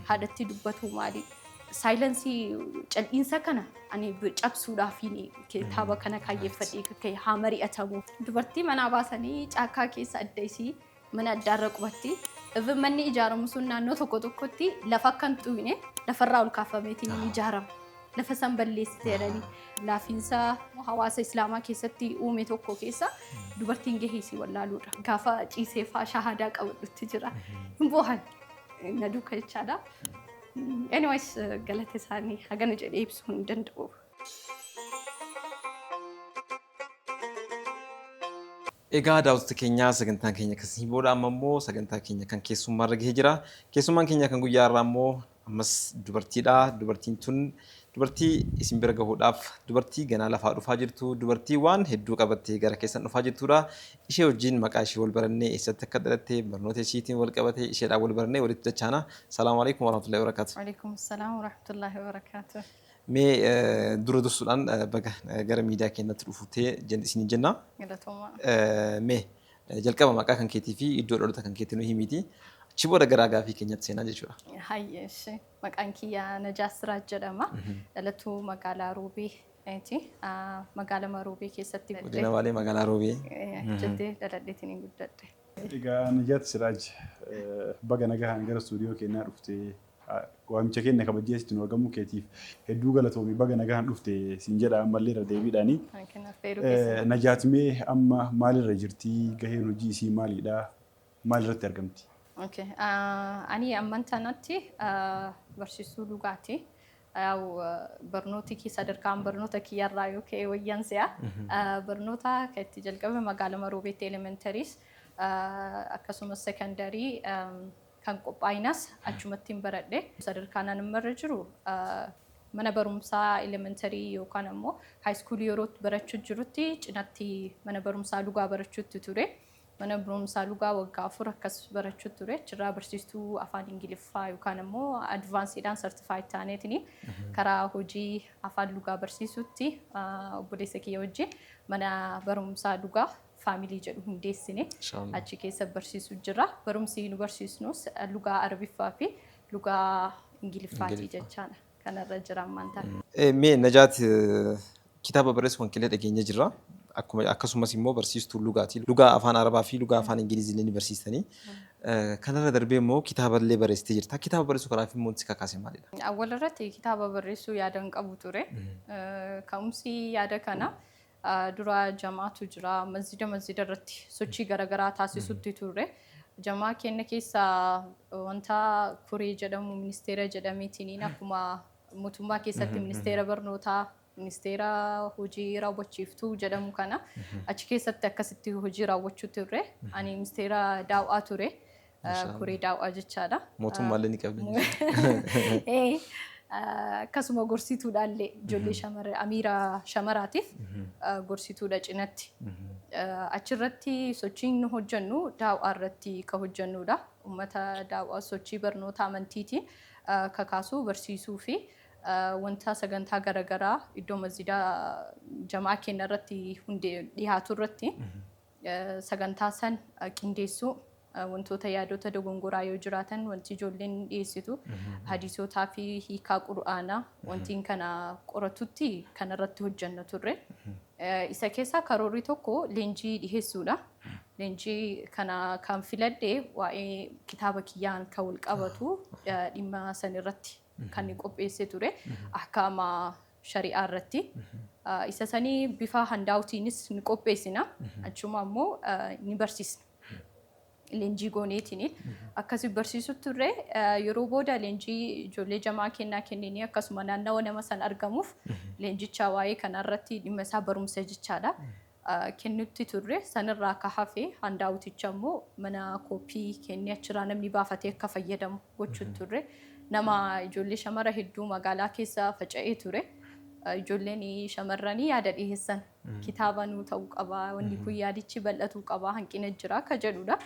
Haadhattii dubbatuu maali? Saayilansii cal'iinsa kana ani cabsuudhaafiin kitaaba kana kaayyeffadhee ka'e haa mari'atamu. Dubartii manaa baasanii caakkaa keessa adda isii mana addaarra qubatti. Even manni ijaaramu sun naannoo tokko tokkotti lafa akka hin xuqne lafarraa ol kaafameetiin hin ijaarama. Lafa san balleessite jedhanii laafiinsa hawaasa islaamaa keessatti uume tokko keessa dubartiin gahee isii wallaaluudha. Gaafa ciisee faa shahaadaa qabadhutti jira. Hin boohan. na duuka jechaadha. Anyways galata isaanii hagana jedhee ibsuu hin danda'u. Egaa daawwattoota keenya sagantaan keenya akkasii booda amma immoo sagantaa keenya kan keessummaa irra gahee jira. Keessummaan keenya kan guyyaa irraa immoo ammas dubartiidha. Dubartiin tun dubartii isin bira gahuudhaaf dubartii ganaa lafaa dhufaa jirtu dubartii waan hedduu qabattee gara keessan dhufaa jirtudha. Ishee wajjiin maqaa ishee wal barannee eessatti akka dhalatte barnoota ishiitiin wal qabatee isheedhaan wal barannee walitti dachaana. Salaamu Aleykum warahmatullahi wabarakatuh. Waleykum salaam warahmatullahi wabarakatuh. Mee dura dursuudhaan baga gara miidiyaa keenyatti dhufuutee jen isiniin jenna. Galatoomaa. Mee jalqaba maqaa kan keetii fi iddoo dhalota kan keetii nu himiiti. Achi booda gara gaafii keenyatti seenaa jechuudha. Hayyee ishee maqaan kiyyaa Najaat Siraaj jedhama. Dhalatuu magaalaa Ruubii Eti magaalama Roobee keessatti guddadhe. Godina Baalee magaalaa Roobee. Achitti dhaladheetiin hin guddadhe. Egaa Najaat Siraaj baga nagahaan gara istuudiyoo keenyaa dhufte waamicha keenya kabajjee asitti nu argamuu keetiif hedduu galatoomi baga nagahaan dhufte siin jedha ammallee irra deebiidhaani. Najaat mee amma maalirra jirti gaheen hojii isii maalidha maalirratti argamti? Ani amman tanatti barsiistuu dhugaati. Yaa'u barnooti kiyya sadarkaan barnoota kiyya irraa yoo ka'e wayyan se'a. Barnoota kan itti jalqabe magaala Maroobeetti elementaries akkasumas sekondarii kan qophaa'inas achumattiin baradhe. Sadarkaan an amma irra jiru mana barumsaa elementarii yookaan ammoo haayiskuulii yeroo barachuu jirutti cinatti mana barumsaa lugaa barachuutti ture. Mana Barumsaa Lugaa waggaa afur akkas barachuu ture. Achirraa barsiistuu afaan Ingiliffaa yookaan ammoo advaansiidhaan sartifaayid taaneetini karaa hojii afaan Lugaa barsiisuutti ah, obboleessa kiyya wajjin mana barumsaa Lugaa faamilii jedhu hundeessine Inshallah. achi keessa barsiisuu jirra. Barumsi nu barsiisnus eh, Lugaa Arabiffaa fi Lugaa Ingiliffaati Ingiliffa. jechaadha. kanarra jira ammaan ta'a. Eh, Mee Najaat eh, kitaaba barreessu kan qillee dhageenya jirra. Akkuma akkasumas immoo barsiistuu lugaati. Lugaa afaan Arabaa fi lugaa afaan Ingilizii illee ni barsiistanii. Eh, Kanarra darbee immoo kitaaba illee barreessitee jirta. Kitaaba barreessuu kanaaf immoo wanti si kakaase maalidha? Awwal irratti kitaaba barreessuu yaadan qabu ture. Eh, Ka'umsi yaada kana Dura jamaatu jira. Masjida masjida irratti sochii garaagaraa taasisutti turre. Jamaa keenya keessa wanta koree jedhamu ministeera jedhameetiin akkuma mootummaa keessatti ministeera barnootaa ministeera hojii raawwachiiftuu jedhamu kana achi keessatti akkasitti hojii raawwachuu turre. Ani ministeera daaw'aa ture. Mashallah. koree daaw'aa jechaadha. Mootummaallee ni qabdan jechuudha. Eh, ah, Akkasuma gorsituudhaallee ijoollee shamarra amiira shamaraatiif ah, gorsituudha cinatti. Ah, Achirratti sochiin nu hojjennu daaw'aa irratti ka hojjennudha. Uummata daaw'aa sochii barnoota amantiitiin ah, kakaasuu barsiisuu fi ah, wanta sagantaa garaagaraa iddoo masjidaa jamaa keenya irratti hundee dhiyaatu irratti sagantaa san qindeessuu wantoota yaadota dogongoraa yoo jiraatan wanti ijoolleen dhiyeessitu hadiisotaa fi hiikaa qur'aanaa wantiin kana qoratutti kan irratti hojjanna turre. Isa keessaa karoorri tokko leenjii dhiheessuudha. Leenjii kana kan filadhe waa'ee kitaaba kiyyaan kan wal qabatu dhimma san irratti kan qopheesse ture ahkaama shari'aa irratti. Isa sanii bifa handaawutiinis ni qopheessina. Achuma ammoo ni barsiisna. Leenjii gooneetini. Akkasi barsiisu turre yeroo booda leenjii ijoollee jamaa kennaa kenninee akkasuma naannawa nama san argamuuf leenjichaa waa'ee kanarratti dhimma isaa barumsa jechaadha. kennutti turre. Sanirraa ka hafe handaawuticha immoo mana koppii kennee achirraa namni baafatee akka fayyadamu gochuutti turre. Nama ijoollee shamara hedduu magaalaa keessa faca'ee ture. Ijoolleen shamarranii yaada dhiheessan. Kitaaba nuu ta'uu qaba, wanni kun yaadichi bal'atuu qaba, hanqina jira akka jedhudha.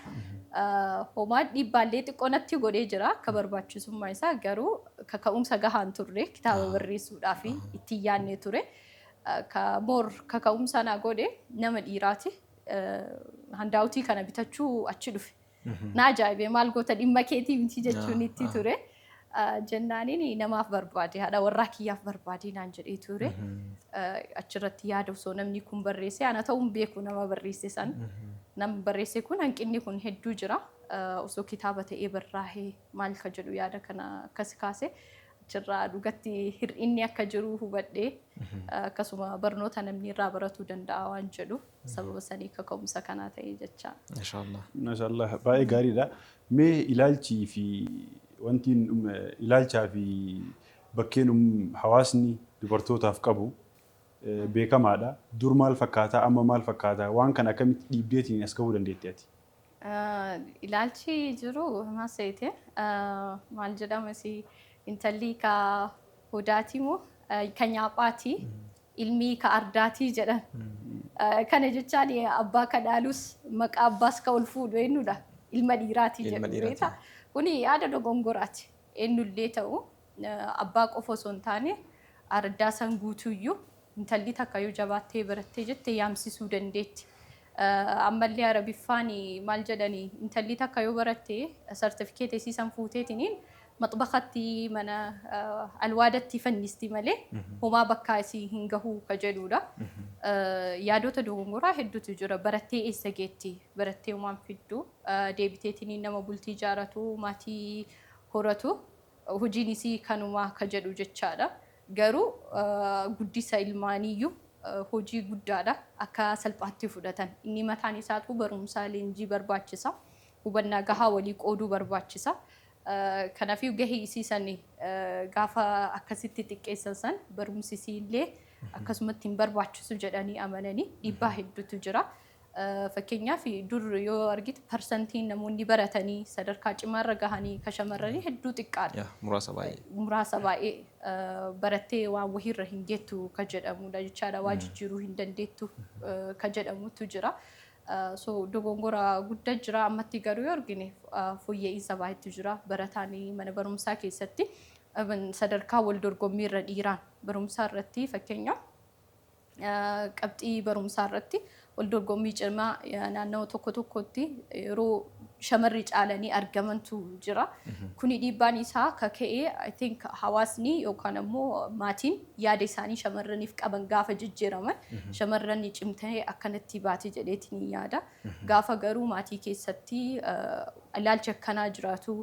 Homaa dhiibbaallee xiqqoo natti godhee jira akka barbaachisummaa isaa garuu kaka'umsa gahaan turre kitaaba barreessuudhaaf ittiin yaadne ture. Ka more kaka'umsa naa godhe nama dhiiraati. Handaawutii kana bitachuu achi dhufe. Na ajaa'ibe maal goota dhimma keetii miti jechuun itti ture. Jennaaniin namaaf barbaade haadha warraa kiyyaaf barbaade naan jedhee ture. Achirratti yaada osoo namni kun barreessee ana ta'uun beeku nama barreesse san. Namni barreesse kun hanqinni kun hedduu jira. Osoo kitaaba ta'ee barraa'ee maal ka jedhu yaada kana akkas kaase. jirra. Dhugatti hir'inni akka jiru hubadhe. Akkasuma barnoota namni irraa baratuu danda'a waan jedhu sababa sanii kaka'umsa kanaa ta'e jecha. Mashaallah. Mashaallah baay'ee gaariidha. Mee ilaalchii fi wanti ilaalchaa fi bakkeen hawaasni dubartootaaf qabu beekamaadha. Dur maal fakkaataa amma maal fakkaataa waan kana akkamitti dhiibdeetiin as gahuu dandeetti ati? Ilaalchi jiru maseete maal jedhama si intalli ka hudaatii moo ka nyaaphaati ilmii ka ardaatii jedhan. Kana jechaan abbaa ka dhaalus maqaa abbaas ka ol fuudhu eenyudha ilma dhiiraatii Ilma jedhu dhiiraatii. beekta. Kuni yaada dogongoraati eenyullee ta'u Abbaa qofa osoo hin taane araddaa san guutuuyyuu intalli takka yoo jabaattee barattee jette yaamsisuu dandeetti. Ammallee Arabiffaan maal jedhani intalli takka yoo baratte sartifikeeta isii san fuuteetiniin maxbakhatti mana alwaadatti fannisti malee homaa bakkaa isii hin gahu ka jedhuudha. Yaadota dogongoraa hedduutu jira. Barattee eessa geetti? Barattee homaan fiddu. Deebiteetiniin nama bultii ijaaratu, maatii horatu Hojiin isii kanuma ka jedhu jechaadha. Garuu guddisa ilmaaniiyyuu hojii guddaadha. Akka salphaatti fudhatan. Inni mataan isaatuu barumsaa leenjii barbaachisa. Hubannaa gahaa walii qooduu barbaachisa. Kanaafuu gahee isii san gaafa akkasitti xiqqeessan san barumsi isiillee akkasumatti hin barbaachisu jedhanii amananii dhiibbaa hedduutu jira. Fakkeenyaaf dur yoo argite parsantiin namoonni baratanii sadarkaa cimaarra gahanii ka shamarranii hedduu xiqqaadha. Yaa muraasa baay'ee. Muraasa baay'ee barattee waan wahiirra hin geettu ka jedhamudha jechaadha. Waa jijjiiruu hin dandeettu ka jedhamutu jira. So dogongora gudda jira ammatti garuu yoo argine fooyya'iinsa baay'eetu jira. Barataan mana barumsaa keessatti sadarkaa wal dorgommiirra dhiiraan barumsaa irratti fakkeenyaaf Qabxii barumsaa irratti waldorgommii cimaa naannawa tokko tokkotti yeroo shamarri caalanii argamantu jira. Kuni dhiibbaan isaa akka ka'e I think hawaasni yookaan ammoo maatiin yaada isaanii shamarraniif qaban gaafa jijjiiraman shamarran cimtee akkanatti baate jedheeti ni yaada. Gaafa garuu maatii keessatti ilaalchi akkanaa jiraatu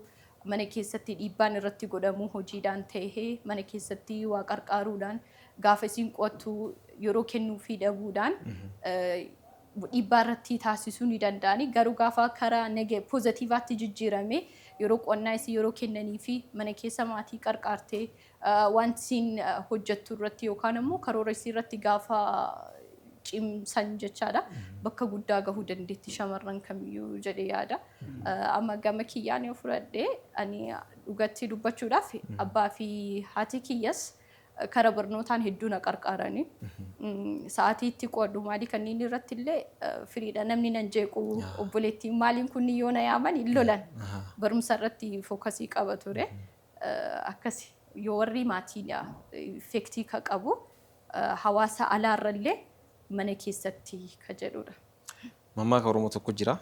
mana keessatti dhiibbaan irratti godhamu hojiidhaan ta'ee mana keessatti waa qarqaaruudhaan gaafa isiin qo'attu yeroo kennuufii dhabuudhaan dhiibbaa irratti taasisuu ni danda'ani. Garuu gaafa karaa nege pozatiivaatti jijjiirame yeroo qo'annaa isii yeroo kennanii fi mana keessa maatii qarqaartee waan isiin hojjettu irratti yookaan ammoo karoora isii irratti gaafa cimsan jechaadha. Bakka guddaa gahuu dandeetti shamarran kamiyyuu jedhee yaada. Amma gama kiyyaan yoo fudhadhe ani dhugatti dubbachuudhaaf abbaa fi haati kiyyas Kara barnootaan hedduu na qarqaarani. Sa'aatii itti qo'adhu maalii kanneen irratti illee firiidha namni nan jeequ obboleettiin maaliin kun yoo na yaaman hin lolan barumsa irratti fookasii qaba ture. Akkasi yoo warri maatiidha effektii ka qabu hawaasa alaarra illee mana keessatti ka jedhudha. Mammaaka Oromoo tokko jira.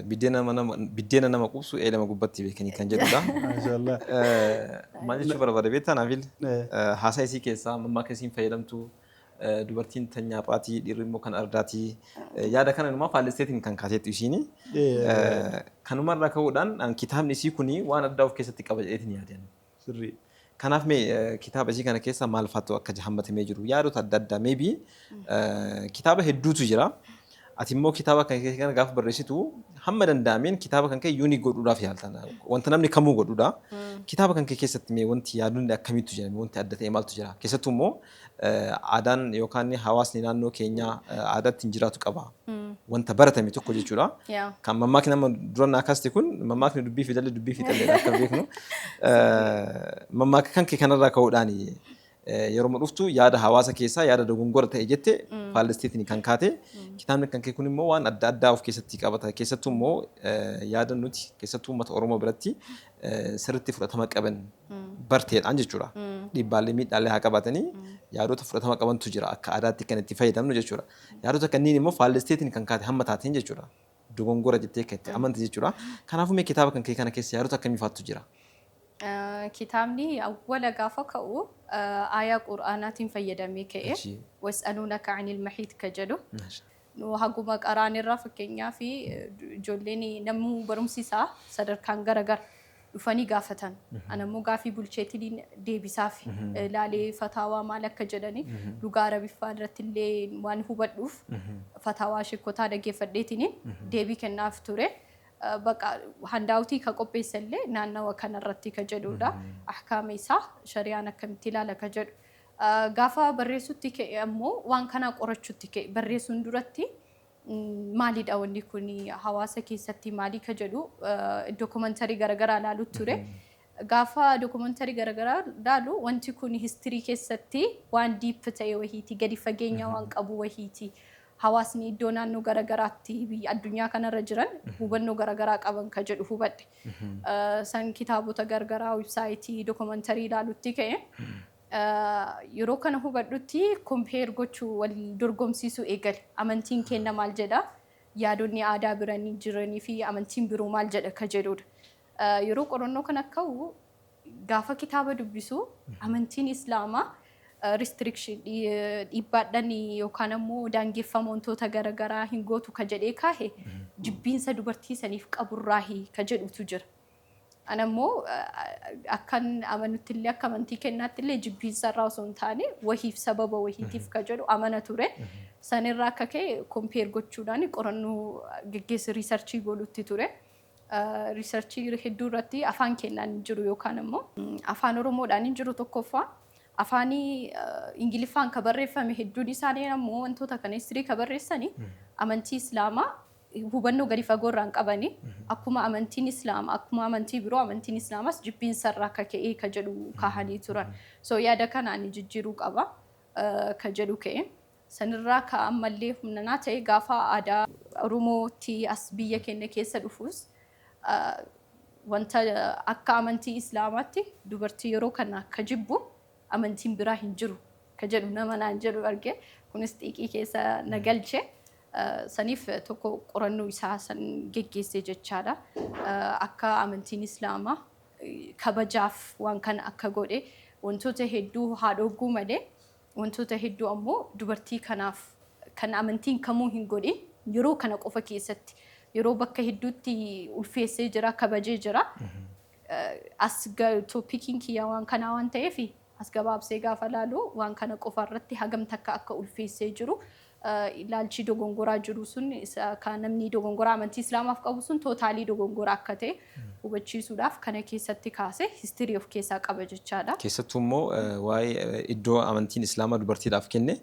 Biddeena nama- nama- Biddeena nama quubsu eelama gubbatti beekanii kan jedhudha. Maashaallah. Eh, Maal jechuu barbaade beektaa Naafil? Eh. Eh, Haasaa isii keessaa mammaaka isiin fayyadamtu eh, dubartiin tan nyaaphaati dhiirri immoo kan ardaati. Eh, Yaada kana inumaa faallesseetiin kan kaateettu isiini. Eh. Eh, Kanumarraa ka'uudhaan an kitaabni isii kuni waan addaa of keessatti qaba jedheetiin yaadeen. Sirrii. Kanaaf mee kitaaba isii kana keessa maal faatu akka hammatamee jiru yaadota adda addaa maybe kitaaba hedduutu jira. Ati immoo kitaaba kan kee kana gaafa barreessitu hamma danda'ameen kitaaba kan kee yuunii godhuudhaaf yaaltan. Wanta namni kamuu godhuudha. Kitaaba kan kee keessatti mee wanti yaadonni akkamiitu jira? Wanti adda ta'e maaltu jira? Keessattuu immoo Aadaan yookaan hawaasni naannoo keenyaa aadaa ittiin jiraatu qaba. Wanta baratame tokko jechuudha. Kan mammaakni amma dura naa kaaste kun mammaakni dubbii fi dalli dubbii fi dalli akka beeknu mammaaka kan kee kanarraa ka'uudhaan yeroo dhuftu yaada hawaasa keessaa yaada dogongora ta'e jette faallesteetiin kan kaate kitaabni kan kee kun immoo waan adda addaa of keessatti qabata keessattuu immoo yaada nuti keessattuu uummata Oromoo biratti eh, sirriitti fudhatama qaban barteedhaan jechuudha. Dhiibbaalee miidhaalee haa qabaatanii yaadota fudhatama qabantu jira akka aadaatti kan itti fayyadamnu jechuudha. Yaadota kanneen immoo faallesteetiin kan kaate hamma taateen jechuudha. Dogongora jettee kan itti amante jechuudha. Kanaafuu mee kitaaba kan kee kana keessa yaadota akkamii faattu jira? Eh, Kitaabni awwala gaafa ka'u eh, aayaa qur'aanaatiin fayyadamee ka'e. Achi. Was'aluunaka anil mahiid ka jedhu. Maasha. Nu haguma qaraanirraa fakkeenyaaf ijoolleen namuu barumsi isaa sadarkaan gara gara dhufanii gaafatan. Anammoo gaafii bulcheetiin deebisaaf laalee fataawaa maal akka jedhani lugaa arabiffaa irratti illee waan hubadhuuf fataawaa shekkotaa dhaggeeffadheetiin deebii kennaaf ture. Baqa handaawutii ka qopheessa illee naannawa kanarratti ka jedhuudha. Ahkaama isaa shariyaan akkamitti ilaala ka jedhu. Gaafa barreessutti ka'e ammoo waan kana qorachutti ka'e. Barreessuun duratti maalidha wanni kun hawaasa keessatti maalii ka jedhu dookumantarii garagaraa ilaalu ture. Gaafa dookumantarii garagaraa ilaalu wanti kun histirii keessatti waan diip ta'e wahiiti, gadi fageenya waan qabu wahiiti. Hawaasni iddoo naannoo garagaraatti biyya addunyaa kanarra jiran hubannoo garagaraa qaban ka jedhu hubadhe. San kitaabota garagaraa, websaayitii, dookumantarii ilaalutti ka'e. Yeroo kana hubadhutti compare gochuu, wal dorgomsiisuu eegali. Amantiin keenna maal jedha? Yaadonni aadaa biran jiranii fi amantiin biroo maal jedha ka jedhuudha. Yeroo qorannoo kana ka'u gaafa kitaaba dubbisu amantiin Islaamaa restriction dhi- dhiibbaadhan yookaan ammoo daangeffama wantoota gara garaa hin gootu ka jedhee kaahe jibbiinsa dubartii saniif qaburraahi ka jedhutu jira. Ana immoo akkan amanutti illee akka amantii kennaatti illee jibbiinsa irraa osoo hin taane wahiif sababa wahiitiif ka jedhu amana ture. Sanirraa akka ka'e kompeer gochuudhaan qorannoo geggeessi riisarchii godhutti ture. Riisarchii hedduu irratti afaan kennaan hin jiru yookaan immoo afaan Oromoodhaan hin jiru tokkoffaa. Afaanii Ingiliffaan ka barreeffame hedduun isaanii ammoo wantoota kana histirii ka barreessani amantii Islaamaa hubannoo gadi fagoo irraa hin qabani. Akkuma amantiin Islaama, akkuma amantii biroo amantiin Islaamaas jibbiinsa irraa akka ka'ee ka jedhu kaahanii turan. So yaada kana ani jijjiiruu qaba ka jedhu ka'e. Sanirraa ka ammallee humna naa ta'e gaafa aadaa Oromootti as biyya keenya keessa dhufus wanta akka amantii Islaamaatti dubartii yeroo kana ka jibbu amantiin biraa hin jiru ka jedhu nama naan jedhu arge. Kunis xiiqii keessa na galche. Saniif tokko qorannoo isaa san geggeessee jechaadha. Akka amantiin Islaamaa kabajaaf waan kana akka godhe wantoota hedduu haa dhogguu malee wantoota hedduu ammoo dubartii kanaaf kan amantiin kamuu hin godhin yeroo kana qofa keessatti yeroo bakka hedduutti ulfeessee jira kabajee jira. As topikiin kiyya waan kanaa waan ta'eef as gabaabsee gaafa laalu waan kana qofa irratti hagam takka akka ulfeessee jiru ilaalchi dogongoraa jiru sun isa kan namni dogongoraa amantii islaamaaf qabu sun tootaalii dogongoraa akka ta'e hubachiisuudhaaf kana keessatti kaase histirii of keessaa qaba jechaadha. Keessattuu immoo waa'ee iddoo amantiin islaamaa dubartiidhaaf kenne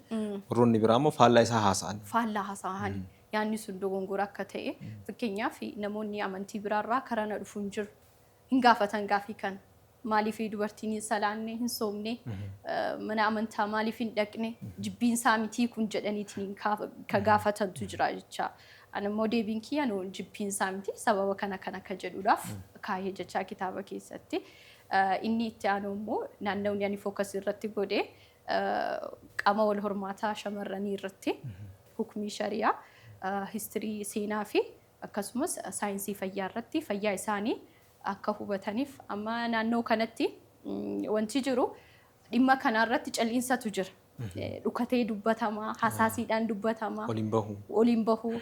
warroonni biraa immoo faallaa isaa haasa'an. Faallaa haasa'an. Yaanni sun dogongora akka ta'e fakkeenyaaf namoonni amantii biraa irraa karaa na dhufu hin jiru. Hin gaafatan gaafii kana. Maaliif dubartiin hin salaanne, hin soomne, mana amantaa maaliif hin dhaqne, jibbiin isaa mitii kun jedhaniitiin ka gaafatantu jira jecha. Ani immoo deebiin kiyya no jibbiin isaa miti sababa kana kana akka jedhuudhaaf kaahee jechaa kitaaba keessatti. Inni itti aanu immoo naannawni ani focus irratti godhe Qaama wal hormaataa shamarranii irratti hukmii shariyaa, history seenaa fi akkasumas saayinsii fayyaa irratti fayyaa isaanii akka hubataniif amma naannoo kanatti wanti jiru dhimma kanaa irratti cal'iinsatu jira. Dhukatee dubbatama, hasaasiidhaan dubbatama, Waliin bahu. waliin bahu.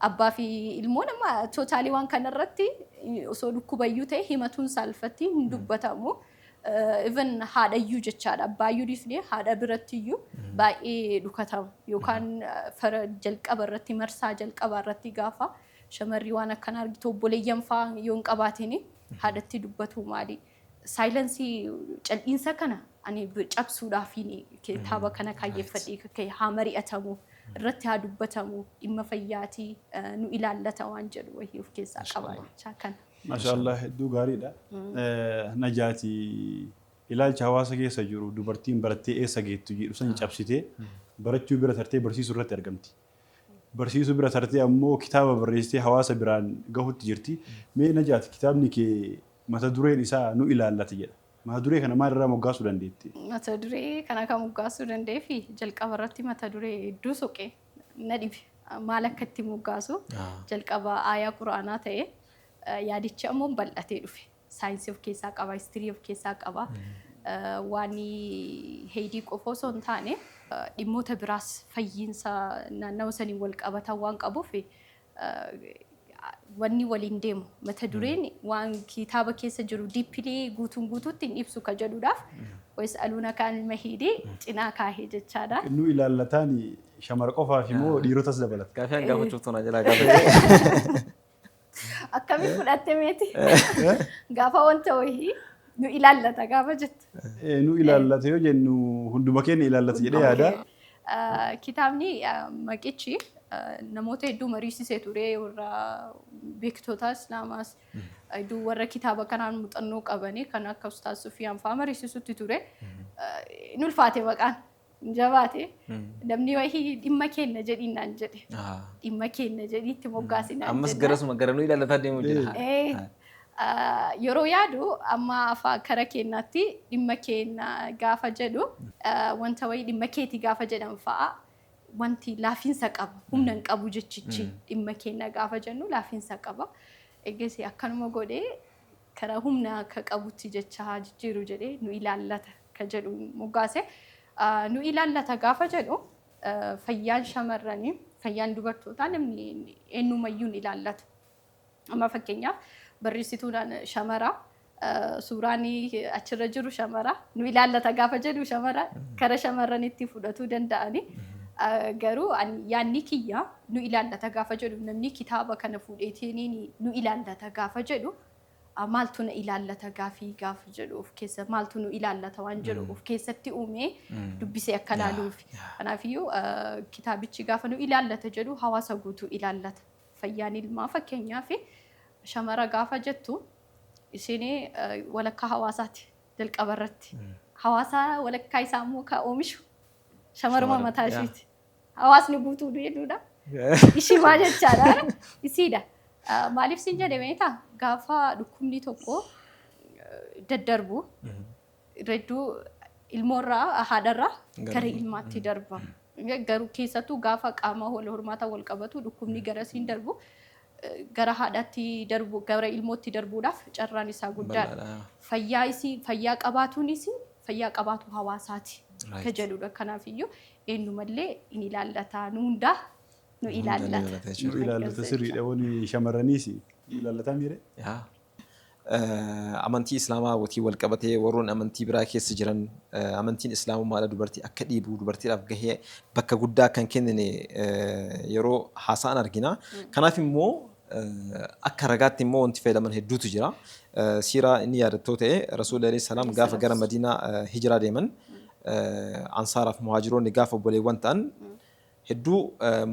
Abbaa fi ilmoon amma tootaalii waan kana irratti osoo dhukkubayyuu ta'e himatuun saalfatti hin dubbatamu. even haadha iyyuu jechaadha abbaa iyyuu dhiifnee haadha biratti iyyuu baay'ee dhukatama yookaan fara jalqaba irratti marsaa jalqabaa irratti gaafa shamarri waan akkan argitu obboleeyyan fa'aa yoo hin qabaatini haadhatti dubbatu maali saayilansii cal'iinsa kana ani cabsuudhaafiin kitaaba kana kaayyeffadhee ka'e haa mari'atamu irratti haa dubbatamu dhimma fayyaatii nu ilaallata waan jedhu wayii of keessaa qaba jechaa kana. Mashaallah hedduu gaariidha. Najaati ilaalcha hawaasa keessa jiru dubartiin barattee eessa geettu jedhu san cabsitee barachuu bira tartee barsiisuu irratti argamti. Barsiisuu bira tartee ammoo kitaaba barreessitee hawaasa biraan gahutti jirti. Mee Najaati kitaabni kee mata dureen isaa nu ilaallata jedha. Mata duree kana maal irraa moggaasuu dandeetti? Mata duree kana kan moggaasuu danda'eef jalqaba irratti mata duree hedduu soqee. na dhibe maal akka itti moggaasu jalqaba aayaa quraanaa ta'e yaadichi ammoo bal'atee dhufe saayinsii of keessaa qaba histirii of keessaa qaba waan heydii qofa osoo hin taane dhimmoota biraas fayyiinsa naannawa saniin wal qabatan waan qabuuf wanni waliin deemu mata dureen waan kitaaba keessa jiru diippilii guutuun guutuutti hin ibsu ka jedhuudhaaf wayis aluuna kaan ilma hiidee cinaa kaahee jechaadha. Innuu ilaallataan shamara qofaaf immoo dhiirotas dabalata. Gaafii an gaafachuu tuna jala gaafachuu. Akkamiin fudhatte meeti? Gaafa wanta wayii nu ilaallata gaafa jettu. Nu ilaallata yoo jennu hunduma keenya ilaallata jedhee yaada. Kitaabni maqichi namoota hedduu mariisisee ture warra beektota islaamaas hedduu warra kitaaba kanaan muuxannoo qabanii kan akka ustaas sufiyaan fa'aa mariisisutti ture hin ulfaate maqaan hin jabaate namni wahii dhimma keenna jedhiin naan jedhe dhimma keenna jedhiitti moggaasinaan ammas garasuma gara nu ilaalataa deemu jira Yeroo yaadu amma afa kara keennaatti dhimma keenna gaafa jedhu wanta wayii dhimma keeti gaafa jedhan fa'a wanti laafiinsa qaba. Humna hin qabu jechichi dhimma keenna gaafa jennu laafiinsa qaba. Eegasii akkanuma godhee karaa humna akka qabutti jecha haa jijjiiru jedhee nu ilaallata ka jedhu moggaase. Nu ilaallata gaafa jedhu fayyaan shamarranii fayyaan dubartootaa namni eenyumayyuu hin ilaallatu. Amma fakkeenyaaf barreessituudhaan shamara suuraan achirra jiru shamara nu ilaallata gaafa jedhu shamara kara shamarranitti fudhatuu danda'ani. Garuu yaanni kiyya nu ilaallata gaafa jedhu namni kitaaba kana fuudheetiin nu ilaallata gaafa jedhu maaltu na ilaallata gaafii gaafa jedhu of keessa maaltu nu ilaallata waan jedhu of keessatti uumee dubbisee akka laaluuf. Kanaafiyyuu kitaabichi gaafa nu ilaallata jedhu hawaasa guutuu ilaallata. Fayyaan ilmaa fakkeenyaaf shamara gaafa jettu isheen walakkaa hawaasaati jalqaba irratti. Hawaasa walakkaa isaa immoo kan oomishu shamaruma Shamaruma, mataa yaa. ishiiti. Hawaasni guutuu duudhaa. Ishii maal jechaadha? Isiidha. Ah, Maaliif siin jedhe meetaa? Gaafa dhukkubni tokko eh, daddarbu Redduu ilmoorraa haadharraa Gara- gara ilmaatti darba. Garuu keessattuu gaafa qaama wal hormaataa wal qabatu dhukkubni garasiin darbu eh, gara haadhaatti darbu gara ilmootti darbuudhaaf carraan isaa guddaadha. Bal'aadha. Fayyaa isii fayyaa qabaatuun isii fayyaa qabaatu hawaasaati Right. ka jedhudha. Kanaaf iyyuu eenyumallee in ilaallata nu hundaa nu Hunda ni ilaallata. ilaallata jechuudha. Nu ilaallata sirriidha wani shamarraniis ilaallata miire. Yaa. Amantii islaamaa watiin wal qabatee warroon amantii biraa keessa jiran amantiin islaamummaadha dubartii akka dhiibu dubartiidhaaf gahee bakka guddaa akka hin kennine yeroo haasa'an argina. Kanaaf immoo akka ragaatti immoo wanti fayyadaman hedduutu jira. Siiraa inni yaadattoo ta'e Rasuulli alayhi salaam gaafa gara Madiinaa hijiraa deeman ansaaraaf muhaajiroonni gaafa obboleewwan ta'an hedduu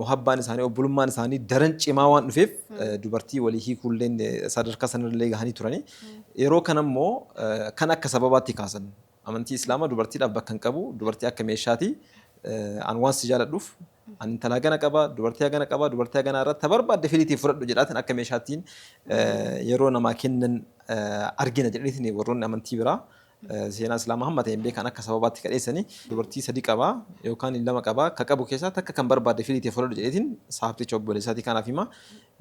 muhabbaan isaanii, obbolummaan isaanii daran cimaa waan dhufeef dubartii walii hiikuulleen sadarkaa sanarrallee gahanii turanii. Yeroo kanammoo kana akka sababaatti kaasan. Amantii Islaamaa dubartiidhaaf bakka hin qabu, dubartii akka meeshaati, an waan si jaaladhuuf an intala hagana qaba, dubartii hagana qaba, dubartii haganaa irraa ta barbaadde filiitii fudhadhu jedhaatiin akka meeshaattiin yeroo namaa kennan argina jedhaniitiin warroonni amantii biraa Seenaa Islaamaa hamma ta'een beekan akka sababaatti ka dheessani dubartii sadi qaba yookaan lama qaba ka qabu keessaa takka kan barbaadde filii tee fudhadhu jedheetiin saahibticha obboleessaatii kaanaaf hima.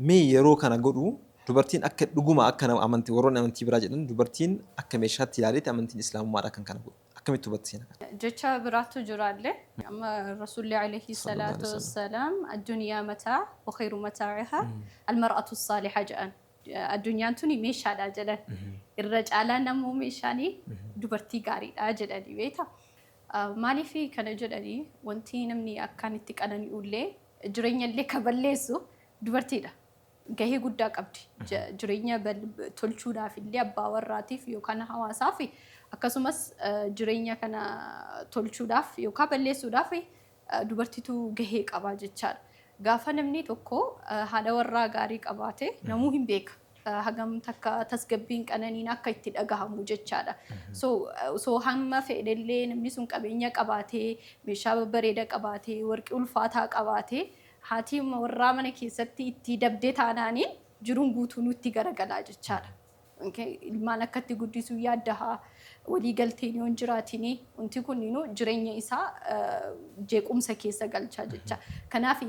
Mee yeroo kana godhu dubartiin akka dhuguma akka nama amantii warroonni amantii biraa jedhan dubartiin akka meeshaatti ilaaleeti amantiin Islaamummaadha kan kana godhu. Akkamitti hubatta seena kana? Jecha biraatu jiraallee. Amma Rasuulli Aleeyhi Salaatu Wassalaam Addunyaa Mataa wa kheyru mataa'ihaa Al-mar'atu Saaliha jedhan. Addunyaan tuni meeshaadha jedhan. Irra caalaan ammoo meeshaan dubartii gaariidha jedhanii beekta. Maaliif kana jedhanii wanti namni akkaan itti qanani'ullee jireenyallee ka balleessu dubartiidha. Gahee guddaa qabdi. Jireenya tolchuudhaaf illee abbaa warraatiif yookaan hawaasaaf akkasumas jireenya kana tolchuudhaaf yookaan balleessuudhaaf dubartitu gahee qaba jechaadha. Gaafa namni tokko haadha warraa gaarii qabaate namuu hin beeka. Hagam takka tasgabbiin qananiin akka itti dhagahamu jechaadha. So osoo hamma fedhellee namni sun qabeenya qabaatee, meeshaa babbareeda qabaatee, warqii ulfaataa qabaatee haati warraa mana keessatti itti dabde taanaaniin jiruun guutuunuu itti garagalaa jechaadha. Ilmaan akkatti guddisuu yaaddaha walii galteen yoon jiraatini wanti kun jireenya isaa jeequmsa keessa galcha jecha. Kanaaf